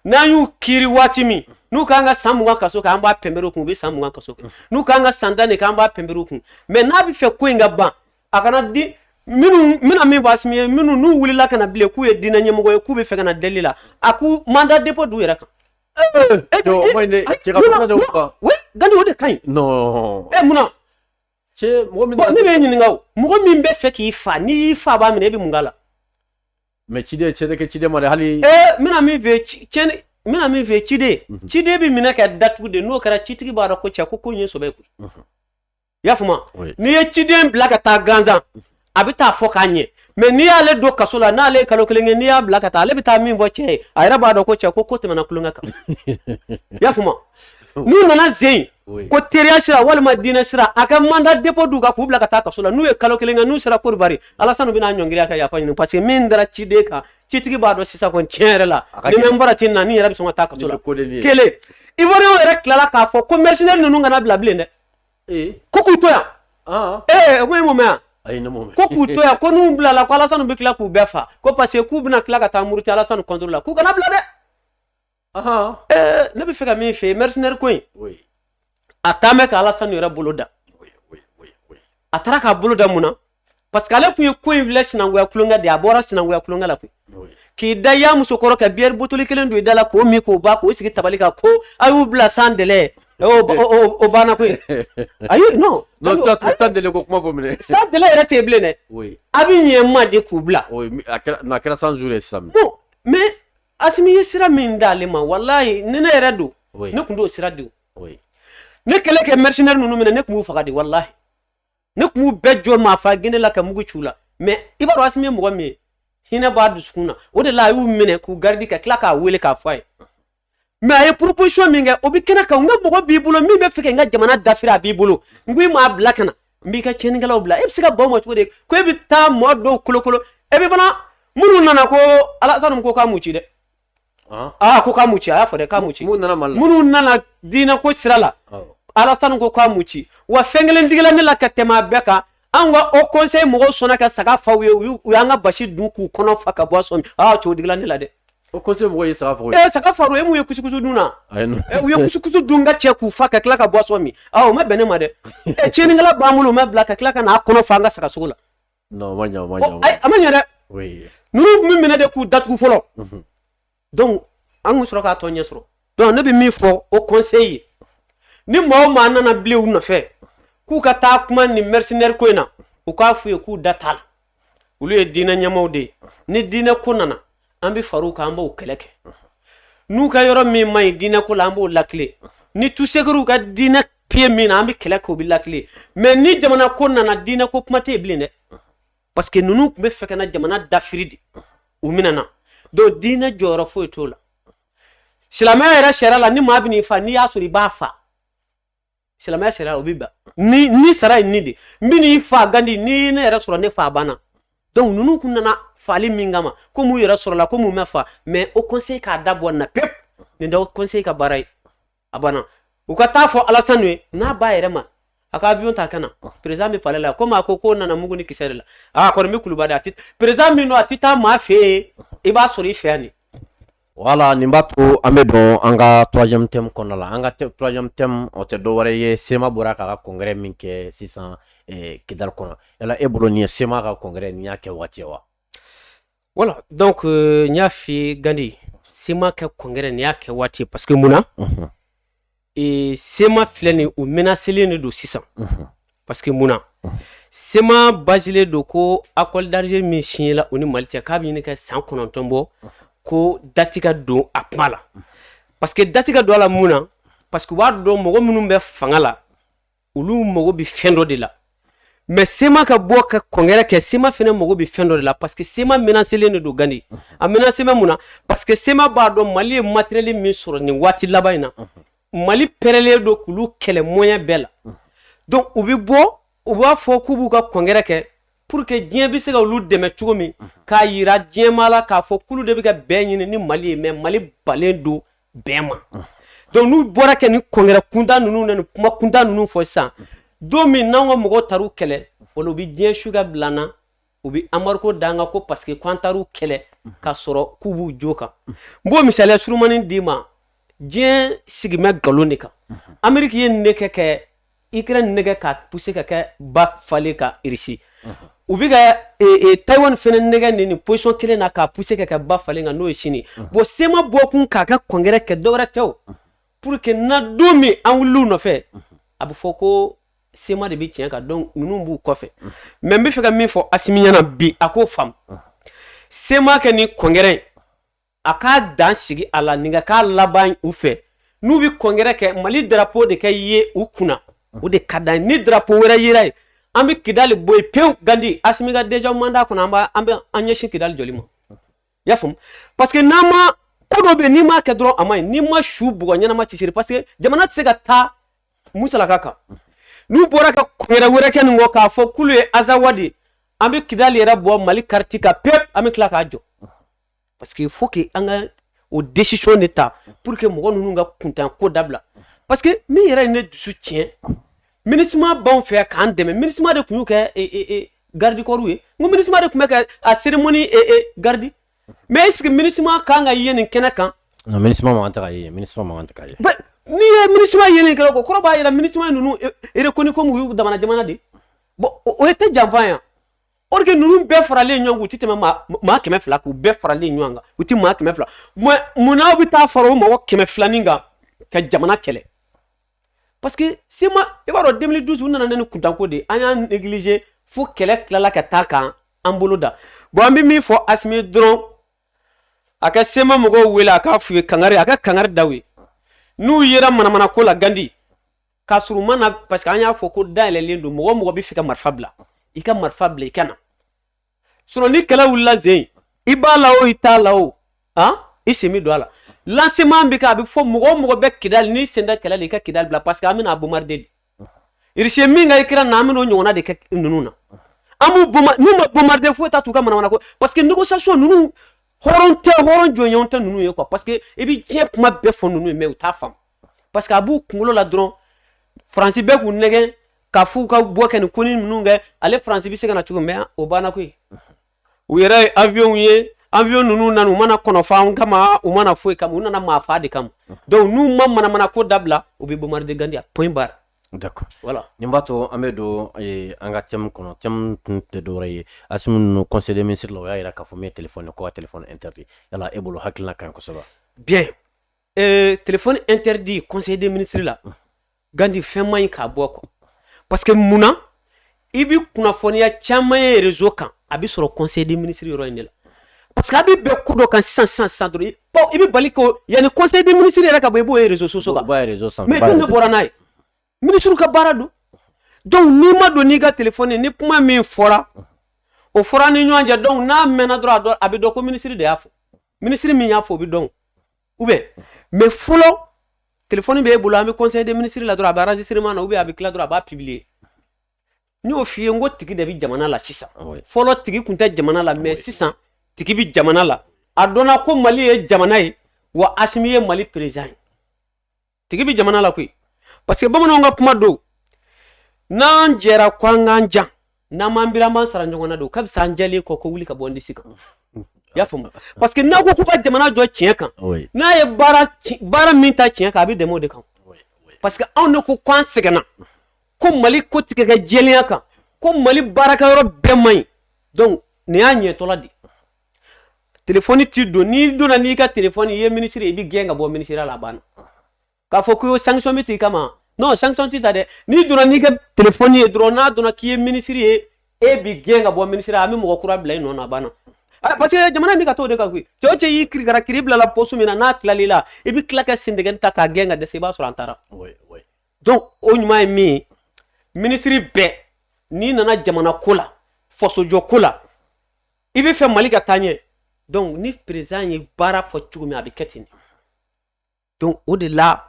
n'an y'u kiri waati min n'u kan ka san mugan kaso kɛ an b'a pɛnpɛrɛ u kun u bɛ san mugan kaso kɛ n'u kan ka san tan de kɛ an b'a pɛnpɛrɛ u kun mɛ n'a b'a fɛ ko in ka ban a kana di minnu mina min fɔ asimi ye minnu n'u wulila ka na bilen k'u ye diinɛ ɲɛmɔgɔ ye k'u b'a fɛ ka na deli la a ka manda depo d'u yɛrɛ kan. gandi o de ka ɲi. munna. ne b'i ɲininka mɔgɔ min b'a fɛ k'i fa n'i y'i fabaa minɛ i bɛ mun k'a la mɛ ciden tɛ kɛ ciden ma hali bɛna min fɛ bɛna min fɛ ciden mhm. ciden bɛ minɛ ka datugu de n'o kɛra citigi b'a dɔn ko cɛ ko ko ye sɛbɛ koyi i y'a faamuya n'i ye ciden bila ka taa gansan a bɛ taa fɔ k'a ɲɛ mais n'i y'ale don kaso la n'ale ye kalo kelen kɛ n'i y'a bila ka taa ale bɛ taa min fɔ cɛ ye a yɛrɛ b'a dɔn ko cɛ ko ko tɛmɛna kulonkɛ kan i y'a faamu n'u nana zen ko teriya sira walima diinɛ sira a ka mandat dépôt d'u kan k'u bila ka taa kaso la n'u ye kalo kelen kɛ n'u sera Côte d'Ivoire alasanu bɛna ɲɔngiri ka yafa ɲini parce que min dara ciden kan citigi b'a dɔn sisan kɔni tiɲɛ yɛrɛ la ni mɛ n bɔra ten na ne yɛrɛ bɛ sɔn ka taa kaso la kelen ivoiriyɛnw yɛrɛ tilala k'a fɔ ko mercenaire ninnu kana bila bilen dɛ ee ko k'u to yan ɔn ee ko e m'o mɛn yan ayi ne m'o mɛn ko k'u to yan ko n'u bilala ko alasanu bɛ tila k'u bɛɛ fa ko parce que k'u bɛna tila ka taa muruti alasanu contre la k'u kana bila dɛ ɔhɔn ee ne bɛ fɛ ka min fɔ yen mercenaire ko in oui a taa mɛn ka alasanu yɛrɛ bolo da oui oui oui oui a taara k'a bolo da mun na parce que ale tun ye ko in filɛ sinankunya kulonkɛ de a bɔra sinankunya kulonkɛ la koyi k'i da y'a muso kɔrɔ ka bière buteli kelen don i da la k'o min k'o ban k'o sigi tabali kan ko a y'u bila sans délai o banna koyi ayi non sans délai ko kuma fɔ minɛ sans délai yɛrɛ tɛ bilen dɛ a bɛ ɲɛ ma de k'u bila a kɛra cent jours ye sisan bon mais asimi ye sira min d'ale ma walayi ni ne yɛrɛ don ne tun t'o sira di o ne kɛlen ka mercenaire ninnu minɛ ne tun b'u faga de walayi ne kun b'u bɛɛ jɔ maa fa gende la ka mugu ci u la mais i b'a dɔn asimi ye mɔgɔ min ye hinɛ b'a dusukun na o de la a y'u minɛ k'u garidi ka tila k'a wele k'a fɔ a ye mais a ye proposition min kɛ o bɛ kɛnɛ kan n ka mɔgɔ b'i bolo min bɛ fɛ ka n ka jamana dafiri a b'i bolo n ko i m'a bila ka na n b'i ka tiɲɛnikɛlaw bila e bɛ se ka baw ma cogo di ko e bɛ taa mɔgɔ dɔw kolokolo e bɛ fana minnu nana ko alasani ko k'a mu ci dɛ aa ah, ko k'a mu ci a y'a fɔ dɛ k'a mu ci minnu nana mali la minnu nana diinɛ ko sira la alasani ko k'a mu ci wa fɛn kelen digila ne la ka tɛmɛ a bɛɛ kan an ka haut conseil mɔgɔw sɔnna ka saga fa u ye u y'an ka basi dun k'u kɔnɔ fa ka bɔ a sɔmi aa ah, cogo digila ne la dɛ haut conseil mɔgɔw ye saga fa u ye ee eh, saga fa u ye mun ye kusukusu dun na eh, u ye kusukusu dun ka cɛ k'u fa ka tila ka bɔ a sɔmi aa ah, o ma bɛn ne ma dɛ eh, tiɲɛnikɛla b'an bolo u ma bila ka tila ka n'a kɔnɔ fa an ka saga sogo la Non, ma ɲa, ma ɲa. Ayi, a ma ɲa dɛ. Oui. Ninnu bɛ minɛ de k'u datugu fɔlɔ. Unhun. Donc, an ka sɔrɔ k'a tɔ ɲɛ sɔrɔ. Donc, ne bɛ min fɔ haut conseil ye, ni maa o maa nana bilen u nɔfɛ, k'u ka taa kuma nin mercenaire ko in na, u k'a f'u ye k'u da t'a la. Olu ye diinɛ ɲɛmaaw de ye. Ni diinɛ ko nana, an bɛ far'u kan, an b'o kɛlɛ kɛ. N'u ka yɔrɔ min man ɲi diinɛ ko la, an b'o latilen. Ni tusekiriw ka diinɛ piye min na an bɛ kɛlɛ k'o bɛ latilen mais ni jamana ko nana diinɛ ko kuma tɛ yen bilen dɛ parce que ninnu tun bɛ fɛ ka na jamana dafiri de u minɛna donc diinɛ jɔyɔrɔ foyi t'o la silamɛya yɛrɛ sariya la ni maa bɛ n'i fa n'i y'a sɔrɔ i b'a fa silamɛya sariya o bɛ ban ni ni sara ye ni de n bɛ n'i fa gandi ni ne yɛrɛ sɔrɔ ne fa banna donc ninnu tun nana fali min kama komi u yɛrɛ sɔrɔla komi u ma fa mais haut conseil k'a da bɔ nin na pewu nin tɛ haut conseil ka baara ye a banna u ka taa fɔ alasani ye n'a b'a yɛrɛ ma a ka avion ta ka na perezan bɛ palɛ la komi a ko k'u nana mugu ni kisɛ de la a kɔni bɛ kuluba a tɛ perezan min don a tɛ taa maa fɛ yen i b'a sɔrɔ i fɛ yan de wala nin b'a to an bɛ don an ka troisième thème kɔnɔna la an ka troisième thème o tɛ dɔwɛrɛ ye sema bɔra k'a ka congrès min kɛ sisan eh, kidali kɔnɔ yala e bolo nin sema ka congrès nin y'a kɛ waati ye wa Wala donc n y'a fɔ gandi sema ka congrès nin y'a kɛ waati ye parce que mun na sema filɛ nin u menaselen de don sisan parce que mun na sema basilen don ko accord d'Alger min siɲɛla u ni mali cɛ k'a bɛ ɲini ka san kɔnɔntɔn bɔ ko dati ka don a kuma la parce que dati ka don a la mun na parce que u b'a dɔn mɔgɔ minnu bɛ fanga la olu mago bɛ fɛn dɔ de la mɛ sema ka bɔ ka congrès kɛ sema fana mago bɛ fɛn dɔ de la parce que sema menaselen de don gandi a menase bɛ mun na parce que sema b'a dɔn mali ye matériel min sɔrɔ nin waati laban in na mali pɛrɛlen don k'olu kɛlɛ moyen bɛɛ la donc u bɛ bɔ u b'a fɔ k'u b'u ka congrès kɛ pour que diɲɛ bɛ se ka olu dɛmɛ cogo min k'a yira diɲɛmaa la k'a fɔ k'olu de bɛ ka bɛn ɲini ni mali ye mɛ mali banlen don bɛn ma donc n'u bɔra kɛ ni congrès kuntan ninnu na ni kuma kuntan ninnu fɔ sisan don min n'an ka mɔgɔw taar'u kɛlɛ wala u bɛ diɲɛ su ka bila an na u bɛ embargo da an kan ko parce que k'an taar'u kɛlɛ ka sɔrɔ k'u b'u jo kan n b'o misaliya surumani d'i ma diɲɛ sigimɛ nkalon de kan ameriki ye nin de kɛ kɛ ikrɛni nɛgɛn ka puse ka kɛ ba falen kan irisi u bɛ ka taiwan fana nɛgɛn nin ni position kelen na ka puse ka kɛ ba falen kan n'o ye sini bon sema bɔ kun k'a ka congrès kɛ dɔwɛrɛ tɛ pour que na don min an wulil'u nɔfɛ a bɛ fɔ ko sema de bɛ tiɲɛ kan donc ninnu b'u kɔfɛ mɛ n b'a fɛ ka min fɔ asimi ɲɛna bi a k'o faamu sema ka nin congrès a ka dan sigi a la nin ka k'a laban u fɛ n'u bɛ congrès kɛ mali darapo de ka ye u kunna o de k'a dan ni darapo wɛrɛ yera yen an bɛ kidali bɔ yen pewu gandi asimi ka deja manda kɔnɔ an b'a an bɛ an ɲɛsin kidali jɔli ma i y'a faamu parce que n'an ma ko dɔ bɛ yen n'i m'a kɛ dɔrɔn a man ɲi n'i ma su bugɔ ɲɛnama tɛ siran parce que jamana tɛ se ka taa musalaka kan n'u bɔra ka congrès wɛrɛ kɛ nin kɔ k'a fɔ k'olu ye azawa de ye an bɛ kidali yɛrɛ bɔ mali kariti kan pewu an bɛ tila k'a jɔ parce que fo que an ka o desizɔn de ta pour que mɔgɔ ninnu ka kuntan ko dabila parce que min yɛrɛ ye ne dusu tiɲɛ minisima b'anw fɛ k'an dɛmɛ minisima de tun y'u ka e, e, e, garidikɔriw ye n ko minisima de tun bɛ ka a seremoni garidi mais est ce que minisima kan ka ye nin kɛnɛ kan non minisima man kan tɛ ka ye minisima man kan tɛ ka ye n'i ye minisima ye nin kɛnɛ kan o kɔrɔ b'a yira minisima ninnu e reconnu komi u y'u damana jamana de bon o yɛrɛ tɛ janfa ye or que ninnu bɛɛ faralen ɲɔgɔn u tɛ tɛmɛ maa kɛmɛ fila k'u bɛɛ faralen ɲɔgɔn kan u tɛ maa kɛmɛ fila munna aw bɛ taa fara o mɔgɔ kɛmɛ filanin kan ka jamana kɛlɛ parce que CMA i b'a dɔn 2012 u nana ni nin kuntanko de an y'a négliger fo kɛlɛ tilala ka taa k'an bolo da bon an bɛ min fɔ asimi dɔrɔn a ka CMA mɔgɔw wele a k'a f'u ye kangari a ka kangari da u ye n'u yera manamana ko la gandi ka sɔrɔ u ma na parce que an y'a fɔ ko dayɛlɛlen don mɔgɔ o mɔgɔ b'a fɛ ka marifa bila i ka marifa bila i ka na sinon ni kɛlɛ wulila zen i b'a la o i t'a la o han i sen bɛ don a la lancement bɛ kɛ a bɛ fɔ mɔgɔ o mɔgɔ bɛ kidali n'i sen t'a kɛlɛ la i ka kidali bila parce que an bɛna a bombarder de Russie ye min kɛ Ukraine na an bɛna o ɲɔgɔnna de kɛ ninnu na an b'u bombarder n'u ma bombarder foyi t'a t'u ka manamana ko parce que négociation ninnu hɔrɔn tɛ hɔrɔn jɔnɲɔgɔn tɛ ninnu ye quoi parce que i bɛ diɲɛ kuma bɛɛ fɔ ninnu ye mais u t'a faamu parce que a b'u kunkolo la dɔrɔn faransi bɛ k'u nɛgɛn ka f'u ka bɔ ka nin ko ni ninnu kɛ ale faransi bɛ se ka na cogo min o banna koyi u yɛrɛ ye avion ye avion ninnu nana u ma na kɔnɔ fa kama u ma na foyi kama u nana maa fa de kama donc n'u ma manamana ko dabila u bɛ bombarder gandi point barre D'accord. Voilà. Nin b'a to an bɛ don eh, an ka thème kɔnɔ thème tun tɛ dɔwɛrɛ ye Asimi ninnu conseil des ministres la o y'a jira k'a fɔ min ye téléphone ye ko ka téléphone interdit yala e bolo hakilina ka ɲi kosɛbɛ wa? Bien Ee tile in teri di kɔseden minisiriri la ganti fɛn ma in k'a bɔ kɔ parce que mun na i bɛ kunnafoniya caman ye yɛrɛzo kan a bɛ sɔrɔ kɔseden minisiriri yɔrɔ in de la parce que a bɛ bɛɛ ko dɔ ka sisan san san i bɛ bali ko yanani kɔseden minisiri yɛrɛ ka bɔ i b'o yɛrɛzsoso bɔra n'a ye minisiriw ka baara don donc n'i ma don n'i ka telefɔni ni kuma min fɔra o fɔra ni ɲɔgɔn cɛ donc n'a mɛnna dɔrɔn a dɔn a bɛ dɔn ko minisiri de y'a fɔ minisiri min y'a fɔ o bɛ dɔn ou bien mais fɔlɔ telefɔni b'e bolo an bɛ conseil des ministres la dɔrɔn a bɛ enregistrement na ou bien a bɛ tila dɔrɔn a b'a publier n y'o f'i ye n ko tigi de bɛ jamana la sisan fɔlɔ tigi tun tɛ jamana la mais sisan tigi bɛ jamana la a dɔnna ko mali ye jamana ye wa asimi ye mali président ye tigi bɛ jamana la koyi parce que bamananw ka kuma don n'an jɛra ko an k'an jan n'an m'an biri an b'an sara ɲɔgɔn na don ka fisa an jɛlen kɔ ko wuli ka bɔ n disi kan i y'a faamu parce que n'a ko k'u ka jamana jɔ tiɲɛ kan Oui. n'a ye baara ci- baara min ta tiɲɛ kan a bɛ dɛmɛ o de kan Oui. Oui. parce que anw de ko k'an sɛgɛnna ko mali ko tɛ ka kɛ jɛlenya kan ko mali baarakɛyɔrɔ bɛɛ man ɲi donc nin y'a ɲɛtɔla de ye. telefɔni ti don n'i donna n'i ka telefɔni ye minisiri i bɛ gɛn ka bɔ minisiriya la a banna k'a fɔ ko sanction bɛ t'i kama non sanction ti ta dɛ n'i donna n'i ka telefɔni ye dɔrɔn n'a dɔnna k'i ye minisiri ye e bi gɛn ka bɔ minisiriya an bɛ mɔgɔ kura bila i nɔ na a banna ah, parce que jamana in bɛ ka t'o de kan koyi cɛ o cɛ y'i kirikara kiri bilala pɔsu min na n'a tilal'i la i bɛ tila ka sendegɛni ta k'a gɛn ka dɛsɛ i b'a sɔrɔ an taara donc o ɲuman ye min ye minisiri bɛɛ n'i nana jamana ko la fasojɔ ko la i bɛ fɛ mali ka taa ɲɛ donc ni perezan ye baara fɔ cogo min a bɛ kɛ ten donc o de la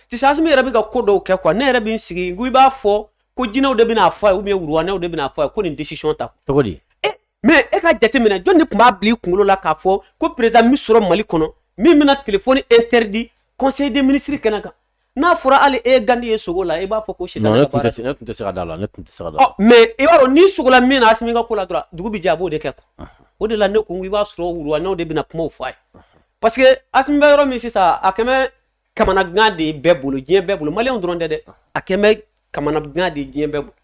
tisɛ asimi yɛrɛ bɛ ka ko dɔw kɛ kuwa ne yɛrɛ bɛ n sigi ko i b'a fɔ ko jinɛw de bɛna fɔ a ye ubiyɛn wuruwanɛw de bɛna fɔ a ye ko nin desisiyɔn ta cogo di eh, mɛ e ka jateminɛ jɔn de tun b'a bila i kunkolo la k'a fɔ ko perezan bi sɔrɔ mali kɔnɔ min bɛna telefɔni interdit conseil des ministres kɛnɛ kan n'a fɔra hali e gandi ye sogo la i b'a fɔ ko si ne tun tɛ se ka da a la ne tun tɛ se ka da mɛ i b'a dɔn n'i sogola min na asimi ka ko la dɔrɔn dugu bɛ jɛ a b'o de kɛ kuwa o de la ne ko i b'a sɔrɔ wuruwanɛw de bɛna kumaw fɔ a ye parce que asimi bɛ yɔrɔ min sisan a kɛlen bɛ kamanagan de ye bɛɛ bolo diɲɛ bɛɛ bolo maliyɛnw dɔrɔn tɛ dɛ a kɛlen bɛ kamanagan de ye diɲɛ bɛɛ bolo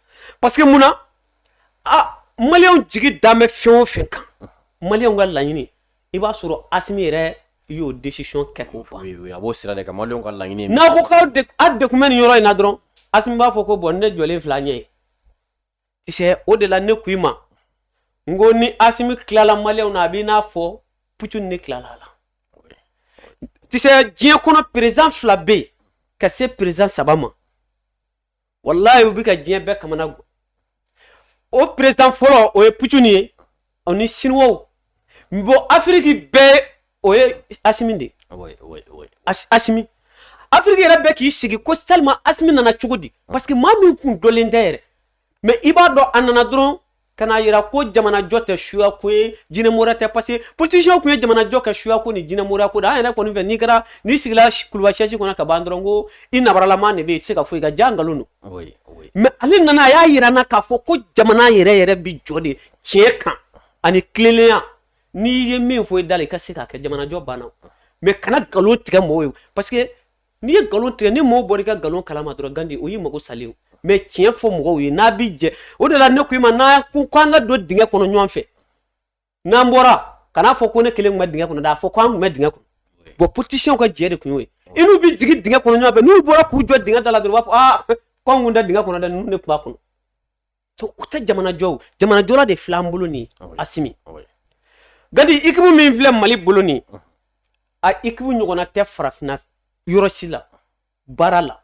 parce que mun na maliyɛnw jigi dalen bɛ fɛn o fɛn kan maliyɛnw ka laɲini i b'a sɔrɔ asimi yɛrɛ y'o desisiyɔn kɛ k'o ban a b'o sira de kan maliyɛnw ka laɲini ye n'a ko k'aw dɛgun bɛ nin yɔrɔ in na dɔrɔn asimi b'a fɔ ko bɔn ne jɔlen filɛ a ɲɛ ye tisɛ o de la ne ko i ma n ko ni asimi tilala maliyɛnw na a b'i n'a fɔ putini ne tilala a la tisɛ diɲɛ kɔnɔ perezan fila bɛ yen ka se perezan saba ma walayi u bɛ ka diɲɛ bɛɛ kamanagan o perezan fɔlɔ o ye putini ye o ni siniwaw bɔn afiriki bɛɛ o ye asimi de asimi afiriki yɛrɛ bɛ k'i sigi ko salilima asimi nana cogo di parce que maa min kun dɔnnen tɛ yɛrɛ mɛ i b'a dɔn a nana dɔrɔn ka n'a yira ko jamanajɔ tɛ suya ko ye jinɛmoriya tɛ paseke politisiyɛnw tun ye jamanajɔ kɛ suya ko ni jinɛmoriya ko de an yɛrɛ kɔni fɛ n'i kɛra n'i sigila kuluba sɛsi kɔnɔ ka ban dɔrɔn ko i nabaralama de bɛ yen i tɛ se ka foyi kɛ jaa nkalon don mɛ ale nana a y'a yira an na k'a fɔ ko jamana yɛrɛ yɛrɛ bi jɔ de tiɲɛ kan ani tilennenya n'i ye min fɔ i da la i ka se k'a kɛ jamanajɔ banna mɛ kana nkalon tigɛ mɔgɔw ye paseke n'i ye nkalon tigɛ ni mɔgɔw bɔra i ka nkalon kalama dɔrɔn gandi o y'i mago salen mɛ tiɲɛ fɔ mɔgɔw ye n'a bi jɛ o de la ne ko i ma n'an ko k'an ka don dingɛ kɔnɔ ɲɔgɔn fɛ n'an bɔra kan'a fɔ ko ne kelen tun bɛ dingɛ kɔnɔ dɛ a fɔ ko an tun bɛ dingɛ kɔnɔ bɔn politisiyɛnw ka jɛ de tun y'o ye i n'u bɛ jigin dingɛ kɔnɔ ɲɔgɔn fɛ n'u bɔra k'u jɔ dingɛ da la dɔrɔn u b'a fɔ aa k'anw kun tɛ dingɛ kɔnɔ dɛ ninnu de tun b'a kɔnɔ to o tɛ jamanajɔ jamanajɔ de filɛ an bolo nin asimi gandi équipe min filɛ mali bolo nin a équipe ɲɔgɔnna tɛ farafinna yɔrɔ si la baara la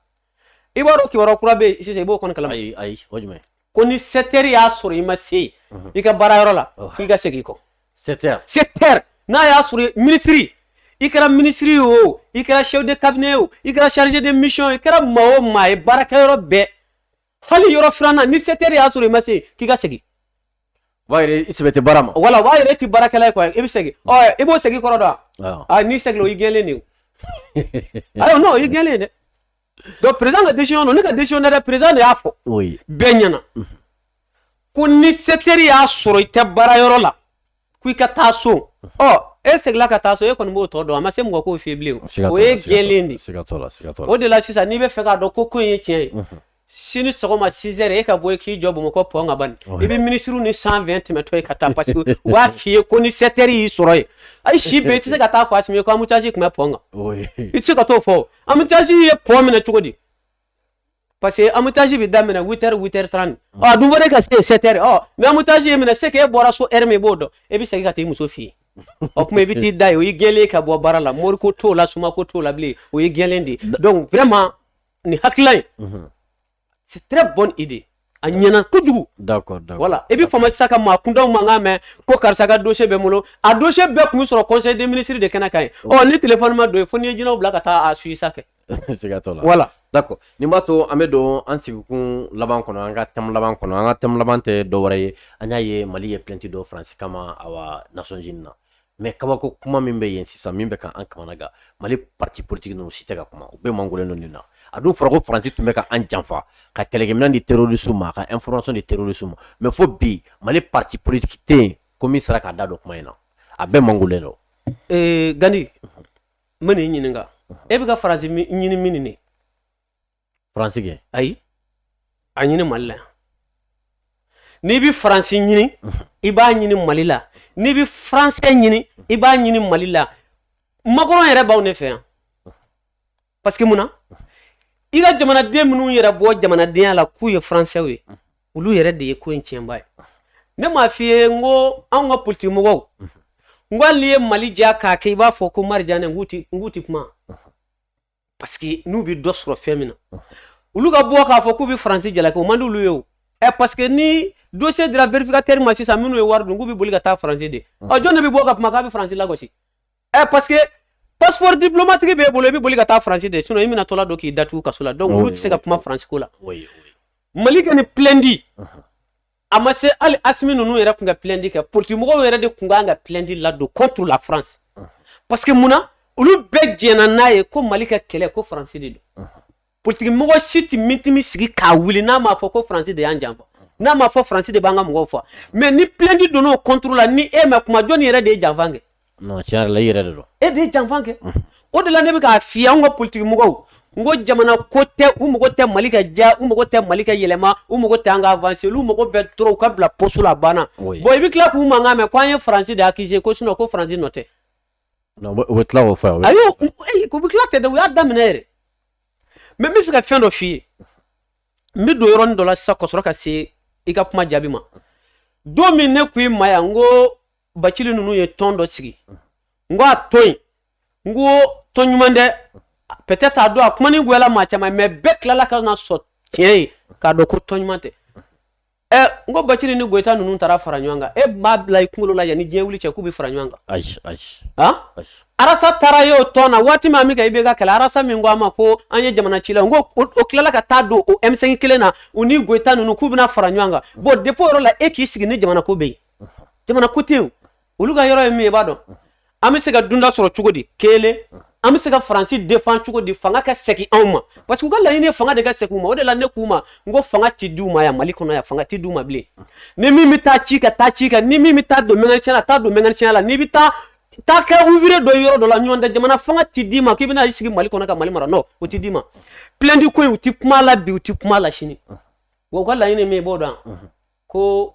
i b'a dɔn kibaruya kura bɛ yen sisan i b'o kɔni kalama ayi ayi o jumɛn ko ni 7 heures y'a sɔrɔ i ma se yen i ka baara yɔrɔ la k'i ka segin i kɔ 7 heures 7 heures n'a y'a sɔrɔ minisiri i kɛra minisiri o i kɛra chef de cabinet o i kɛra chargé de mission i kɛra maa o maa ye baarakɛyɔrɔ bɛɛ hali yɔrɔ filanan ni 7 heures y'a sɔrɔ i ma se k'i ka segin o b'a yira i sɛbɛ tɛ baara ma wala o b'a yira i tɛ baarakɛla ye quoi i bɛ segin ɔ i b'o segin kɔrɔ dɔn wa a n'i seginna o y'i gɛnlen de o ayi n'o y'i gɛnlen dɛ donc président ka décision don ne ka décision tɛ dɛ président de y'a fɔ bɛɛ ɲɛna ko ni 7 heures y'a sɔrɔ i tɛ baara yɔrɔ la ko i ka taa so ɔ e seginna ka taa so e kɔni b'o tɔ dɔn a ma se mɔgɔ k'o f'i bilen o y'i gɛnlen de o de la sisan n'i bɛ fɛ k'a dɔn ko ko in ye tiɲɛ ye sini sɔgɔma 6 heures e ka bɔ i k'i jɔ bamakɔ pɔn kan bani i bɛ minisiriw ni 120 tɛmɛtɔ ye ka taa parce que u b'a f'i ye ko ni 7 heures y'i sɔrɔ yen ayi si bɛɛ i tɛ se ka taa fɔ Asimi ye ko embouteillage tun bɛ pɔn kan i tɛ se ka t'o fɔ embouteillage ye pɔn minɛ cogo di parce que embouteillage bɛ daminɛ 8 heures 8 heures 30 ɔ a dun fɔra e ka se 7 heures ɔ mais embouteillage y'e minɛ c'est que e bɔra so heure min i b'o dɔn e bɛ segin ka taa i muso fɛ yen o kuma i bɛ t'i da yen o y'i gɛnlen ka bɔ baara la mori ko t'o la soma ko t'o la bilen o y'i gɛnlen de ye donc vraiment nin hakilila in c'est très bonne idée a ɲɛna kojugu voilà i bɛ faama sisan ka maa kuntanw mankan mɛn ko karisa ka dossier bɛ n bolo a dossier bɛɛ kun sɔrɔ conseil des ministres de kɛnɛ kan yen ɔ ni téléphone ma don yen fo n'i ye jinɛw bila ka taa a su isa kɛ voilà nin b'a to an bɛ don an sigikun laban kɔnɔ an ka thème laban kɔnɔ an ka thème laban tɛ dɔwɛrɛ ye an y'a ye mali ye plainte don faransi kama awa Nations Unies na mais kabako kuma min bɛ yen sisan min bɛ ka an kamana gan mali parti politique ninnu si tɛ ka kuma u bɛɛ mangolen don nin na a dun fɔra ko faransi tun bɛ ka an janfa ka kɛlɛkɛminɛn di terrorisiw ma ka information di terrorisiw ma mais fo bi mali parti politique tɛ yen ko min sera k'a da don kuma in na a bɛɛ mangolen don ee gandi n bɛ n'i ɲininka e bɛ ka faransi ɲini min nin faransi kɛ ayi a ɲini mali la n'i bɛ faransi ɲini i b'a ɲini mali la n'i bɛ faransɛ ɲini i b'a ɲini mali la Macron yɛrɛ b'anw ne fɛ yan parce que mun na i ka jamanaden minnu yɛrɛ bɔ jamanadenya la k'u ye faransɛw ye olu yɛrɛ de ye ko in tiɲɛbaa ye ne m'a f'i ye n ko anw ka politikimɔgɔw n ko hali n'i ye mali diya k'a kɛ i b'a fɔ ko arijana n k'u tɛ kuma parce que n'u bɛ dɔ sɔrɔ fɛn min na olu ka bɔ k'a fɔ k'u bɛ faransi jalaki o man d'olu ye o ɛ parce que ni dossier dira vérificateur ma sisan minnu ye wari dun k'u bɛ boli ka taa faransi de ɔ jɔn de bɛ bɔ ka kuma k'a bɛ faransi lagosi ɛ parce que passeport diplomatique b'e bolo i bɛ boli ka taa faransi de sinon i minɛtɔla don k'i datugu kaso la donc olu tɛ se ka kuma faransi ko la mali ka nin plainte a ma se hali asimi ninnu yɛrɛ tun ka plainte kɛ politigimɔgɔw yɛrɛ de tun kan ka plainte ladon contre la france parce que mun na olu bɛɛ jɛnna n'a ye ko mali ka kɛlɛ ko faransi de don politigimɔgɔ si tɛ mitimi sigi k'a wuli n'a m'a fɔ ko faransi de y'an janfa n'a m'a fɔ faransi de b'an ka mɔgɔw faga mais ni plainte donn'o contre la ni e ma kuma jɔni yɛrɛ de ye janfa kɛ non tiɲɛ yɛrɛ la i yɛrɛ de don e de ye janfa kɛ o de la ne bɛ k'a f'i ye anw ka politiki mɔgɔw n ko jamana ko tɛ u mago tɛ mali ka diya u mago tɛ mali ka yɛlɛma u mago tɛ an ka avancer olu mago bɛ dɔrɔn u ka bila poste la a banna Oui. bon i bɛ tila k'u mankan mɛn ko an ye faransi de accuser ko sinon ko faransi nɔ tɛ Non, u bɛ- u bɛ tila k'o fɔ yan, u bɛ- ayi u- ayi, u bɛ tila tɛ dɛ u y'a daminɛ yɛrɛ mais n bɛ fɛ ka fɛn dɔ f'i ye n bɛ don yɔrɔnin dɔ la sisan ka sɔrɔ ka se i ka kuma jaabi ma don min ne ko i ma yan n ko bacili ninnu ye tɔn dɔ sigi n ko a to yen n ko tɔn ɲuman tɛ peut-être a don a kuma nin goyala maa caman mais bɛɛ tilala ka n'a sɔrɔ tiɲɛ ye k'a dɔn ko tɔn ɲuman tɛ ɛ n ko bacili ni goyita ninnu taara fara ɲɔgɔn kan e m'a bila i kunkolo la yanni diɲɛ wuli cɛ k'u bɛ fara ɲɔgɔn kan ayi ayi han arasa taara ye o tɔn na waati min a min ka IBK kɛlɛ arasa min ko a ma ko an ye jamana ci la n ko o tilala ka taa don o M5 kelen na u ni goyita ninnu k'u bɛna fara ɲɔgɔn kan bon depuis o yɔrɔ la e k'i sigi ni jamana ko bɛ yen jamana ko tɛ yen olu ka yɔrɔ ye min ye i b'a dɔn an bɛ se ka dunda sɔrɔ cogo di kelen an bɛ se ka faransi défend cogo di fanga ka segin anw ma parce que u ka laɲini ye fanga de ka segin u ma o de la ne k'u ma n ko fanga ti di u ma yan mali kɔnɔ yan fanga ti di u ma bilen ni min bɛ taa cikɛ taa cikɛ ni min bɛ taa don mécanicien la taa don mécanicien la n'i bɛ taa taa kɛ ouvrier dɔ yɔrɔ dɔ la nɔntɛ jamana fanga ti d'i ma k'i bɛna i sigi mali kɔnɔ ka mali mara non o ti d'i ma plainte ko in u ti kuma la bi u ti kuma la sini wa u ka laɲini ye min ye i b'o dɔn ko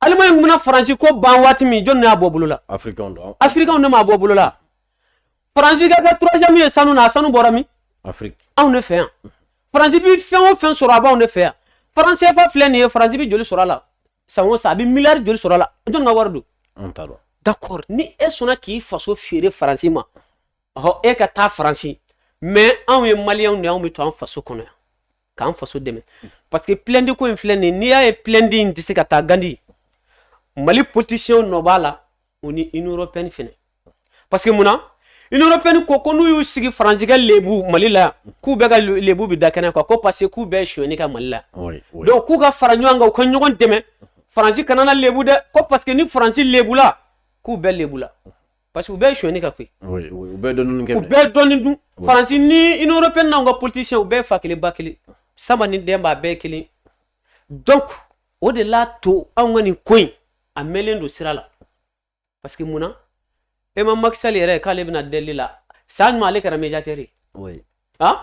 Allemagne bɛna faransi ko ban waati min jɔn y'a bɔ bolo la afirikanw ne m'a bɔ bolo la faransi ka kɛ troisième ye sanu na a sanu bɔra min anw ne fɛ yan faransi bɛ fɛn o fɛn sɔrɔ a b'anw ne fɛ yan franc CFA filɛ nin ye faransi bɛ joli sɔrɔ a la san o san a bɛ miliyari joli sɔrɔ a la jɔn ka wari don d'accord ni e sɔnna k'i faso feere faransi ma ɔhɔ e ka taa faransi mais anw ye maliyɛnw de anw bɛ to an faso kɔnɔ yan k'an faso dɛmɛ parce que plainte ko in filɛ nin ye n'i y'a ye plainte in tɛ se ka taa gandi mali politisiyɛnw nɔ b'a la o ni union européenne fɛnɛ parce que mun na union européenne ko ko n'u y'u sigi faransi ka lebu mali la k'u bɛɛ ka lebu bɛ da kɛnɛ kan ko parce que k'u bɛɛ sonyɛni kɛ mali la donc k'u ka fara ɲɔgɔn kan u ka ɲɔgɔn dɛmɛ faransi kana na lebu dɛ ko parce que ni faransi lebula k'u bɛɛ lebula parce que u bɛɛ ye sonyani ka koyi u bɛɛ dɔnni kɛ u bɛɛ dɔnni dun faransi ni union européenne n'anw ka politicien u bɛɛ fa kelen ba kelen sama ni den b'a bɛɛ kelen donc o de la to anw ka nin ko in a mɛnlen don sira la parce que mun na e ma Macky Sall yɛrɛ k'ale bɛna deli la san ɲuman ale kɛra médiateur ye han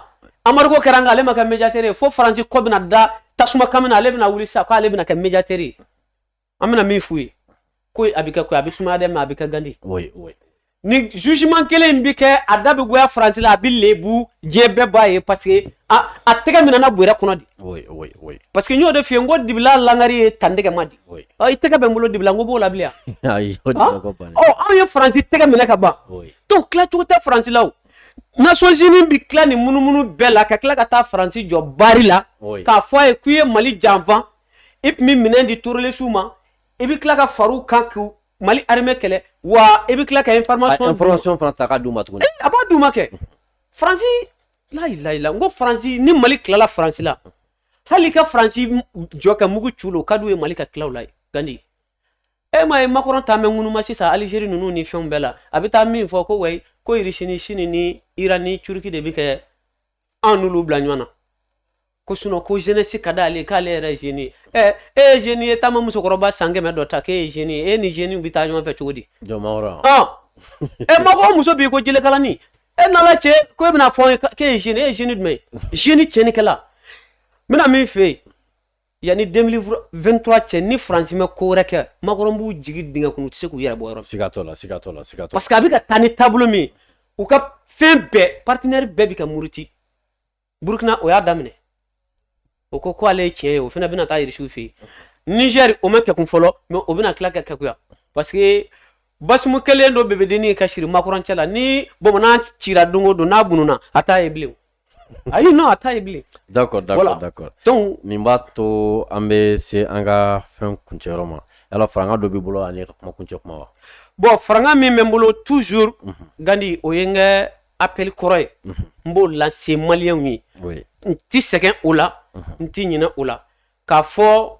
embargo kɛra nka ale ma kɛ médiateur ye fo faransi kɔ bɛna da tasuma kan min na ale bɛna wuli sisan k'ale bɛna kɛ médiateur ye an bɛna min f'u ye ko a bɛ kɛ ko a bɛ sumaya dɛ mais a bɛ kɛ gandi ni jugement kelen bɛ kɛ a da bɛ goya faransi la a bɛ lebu diɲɛ bɛɛ b'a ye parce que a a tɛgɛ minɛna bɔrɛ kɔnɔ de parce que n y'o de f'i ye n ko dibi la langari ye tandɛgɛ ma di i tɛgɛ bɛ n bolo dibi la n ko b'o la bilen anw ye faransi tɛgɛ minɛ ka ban donc tilacogo tɛ faransi la o Nations Unies bɛ tila nin munumunu bɛɛ la ka tila ka taa faransi jɔ bari la k'a fɔ a ye k'i ye mali janfa i tun bɛ minɛn di terorisiw ma i bɛ tila ka far'u kan k'u mali armée kɛlɛ wa i bɛ tila ka information fana ta ka d'u ma tuguni a b'a d'u ma kɛ faransi layilayila n ko faransi ni mali tilala faransi la hali ka faransi jɔ ka mugu c'u la o ka d'u ye mali ka tila u la gandi e m'a ye makɔrɔn ta mɛ ŋunuma sisan alizeri ninnu ni fɛnw bɛɛ la a bɛ taa min fɔ ko wayi ko irisi ni sini ni iran ni turuki de bɛ kɛ an n'olu bila ɲɔgɔn na ko sinon ko jeunesse ka d'ale k'ale yɛrɛ ye jeune ye ɛ e ye jeune ye taama musokɔrɔba san kɛmɛ dɔ ta k'e ye jeune ye e ni jeunew bɛ taa ɲɔgɔn fɛ cogo di jɔn makɔrɔn e mɔgɔ muso b'i ko jelekalani e nana cɛ ko e bɛna fɔ k'e ye jeune e ye jeune jumɛn ye jeune tiɲɛnikɛla n bɛna min f'e ye yanni 2023 cɛ ni faransi ma ko wɛrɛ kɛ makɔrɔn b'u jigi dingɛ kɔnɔ u tɛ se k'u yɛrɛ bɔ yɔrɔ siga t'o la siga t'o la siga t'o parce que a bɛ ka taa ni taabolo min ye u ka fɛn bɛɛ partenaire bɛɛ bɛ ka muruti burukina o y'a daminɛ o ko ko ale ye tiɲɛ ye o fana bɛna taa irisiw fɛ yen nizɛri o ma kegun fɔlɔ mais o bɛna tila ka keguya parce que bazumu kɛlen don bɛbɛdennin ka siri makɔrɔn cɛ la ni bamunan cira don o don n'a bununa a t'a ye bilen ayi non a t'a ye bilen d'accord d'accord d'accord donc nin b'a to an bɛ se an ka fɛn kuncɛyɔrɔ ma yala faranga dɔ b'i bolo ani ka kuma kuncɛ kuma wa bon faranga min bɛ n bolo toujours mhm. gandi o ye n ka appel kɔrɔ ye mhm. n b'o lase maliyɛnw ye n ti sɛgɛn o la mhm. n ti ɲinɛ o la k'a fɔ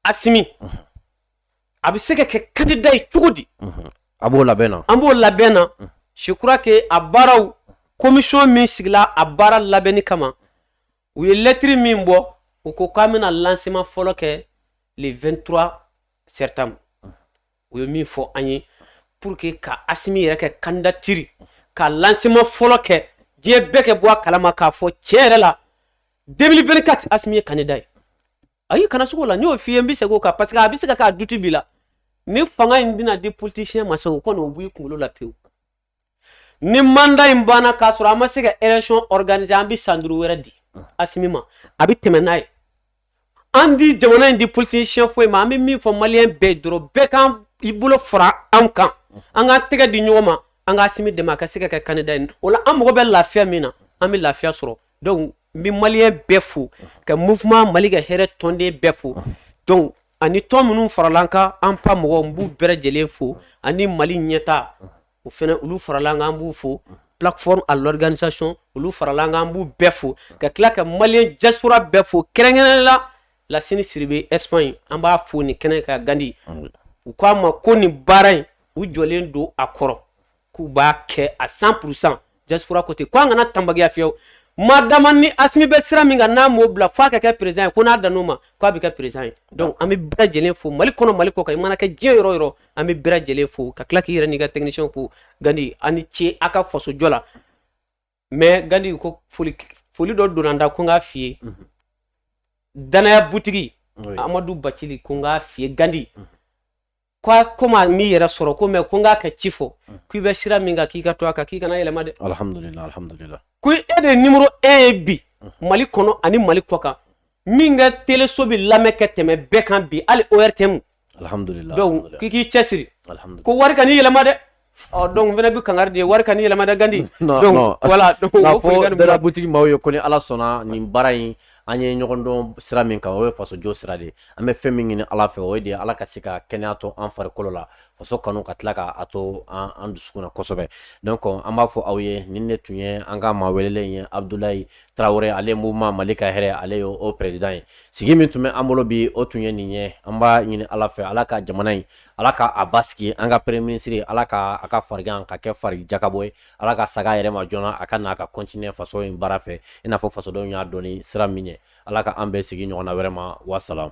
asimi a bɛ se ka kɛ kandida ye cogo di a b'o labɛn na an b'o labɛn na je crois que a baaraw komisɔn min sigila a baara labɛnni kama u ye lɛtiri min bɔ u ko k'an bɛna lancement fɔlɔ kɛ le 23 septembre u ye min fɔ an ye pour que ka asimi yɛrɛ ka kandidatiri ka lancement fɔlɔ kɛ diɲɛ bɛɛ ka bɔ a kalama k'a fɔ tiɲɛ yɛrɛ la 2024 asimi ye kandida ye ayi kana sugu la n y'o f'i ye n bɛ segin o kan parce que a bɛ se ka k'a doute b'i la ni fanga in bɛna di politisiyɛn ma sa o kɔni o bɔ i kunkolo la pewu ni mandat in banna k'a sɔrɔ an ma se ka élection organiser an bɛ san duuru wɛrɛ di asimi ma a bɛ tɛmɛ n'a ye an tɛ jamana in di politisiyɛn foyi ma an bɛ min fɔ maliyɛn bɛɛ dɔrɔn bɛɛ ka na i bolo fara an kan an k'an tɛgɛ di ɲɔgɔn ma an ka asimi dɛmɛ a ka se ka kɛ candidat ye o la an mago bɛ lafiya min na an bɛ lafiya sɔrɔ donc n bɛ maliyɛn bɛɛ fo ka mouvement mali ka hɛrɛ tɔnden bɛɛ fo donc ani tɔn minnu farala an kan an pa mɔgɔw n b'u bɛɛ lajɛlen fo ani mali ɲɛta o fɛnɛ olu farala an kan an b'u fo plateforme à l'organisation olu farala an kan an b'u bɛɛ fo ka tila ka maliyɛn diaspora bɛɛ fo kɛrɛnkɛrɛnnen la lasini siribe espagne an b'a fo nin kɛnɛ kan gandi u k'an ma ko nin baara in u jɔlen don a kɔrɔ k'u b'a kɛ à cent pour cent diaspora côté ko an kana tanbagiya fiyewu madama ni asimi bɛ sira min kan n'a m'o bila f'a ka kɛ président ye ko n'a dan o ma k'a bɛ kɛ président ye donc an bɛ bɛɛ lajɛlen fo mali kɔnɔ mali kɔ kan i mana kɛ diɲɛ yɔrɔ o yɔrɔ an bɛ bɛɛ lajɛlen fo ka tila k'i yɛrɛ n'i ka technicien fo gandi a ni ce a ka fasojɔ la mais gandi ko foli dɔ donna n da ko n k'a f'i ye danaya butigi amadu bacili ko n k'a f'i ye gandi ko kom'a m'i yɛrɛ sɔrɔ ko mais ko n k'a ka ci fɔ k'i bɛ sira min kan k'i ka to a kan k'i kana yɛlɛma dɛ ko e de numéro un ye bi mali kɔnɔ ani mali kɔ kan min ka teleso bɛ lamɛn kɛ tɛmɛ bɛɛ kan bi hali ortm alhamdulillah k'i cɛ siri ko wari kan'i yɛlɛma dɛ ɔ donc fana b'i kangari de wari kan'i yɛlɛma dɛ gandi voilà danaya butigi maaw ye ko ni ala sɔnna nin baara in an ye ɲɔgɔn dɔn sira min kan o ye fasojɔ sira de an bɛ fɛn min ɲini ala fɛ o ye de ala ka se ka kɛnɛya to an farikolo la faso kanu ka tila k'a to an dusukun na kosɛbɛ donc an b'a fɔ aw ye nin de tun ye an ka maa welelen ye abudulayi tarawele ale mouvement mali ka hɛrɛ ale ye o président ye sigi min tun bɛ an bolo bi o tun ye nin ye an b'a ɲini ala fɛ ala ka jamana in ala ka a basigi an ka premier ministre ala ka a ka farigan ka kɛ fari jakabɔ ye ala ka saga yɛrɛ ma joona a ka na ka continuer faso in baara fɛ i n'a fɔ fasodenw y'a dɔn ni sira min ye ala ka an bɛn sigi ɲɔgɔn na wɛrɛ ma wasalamu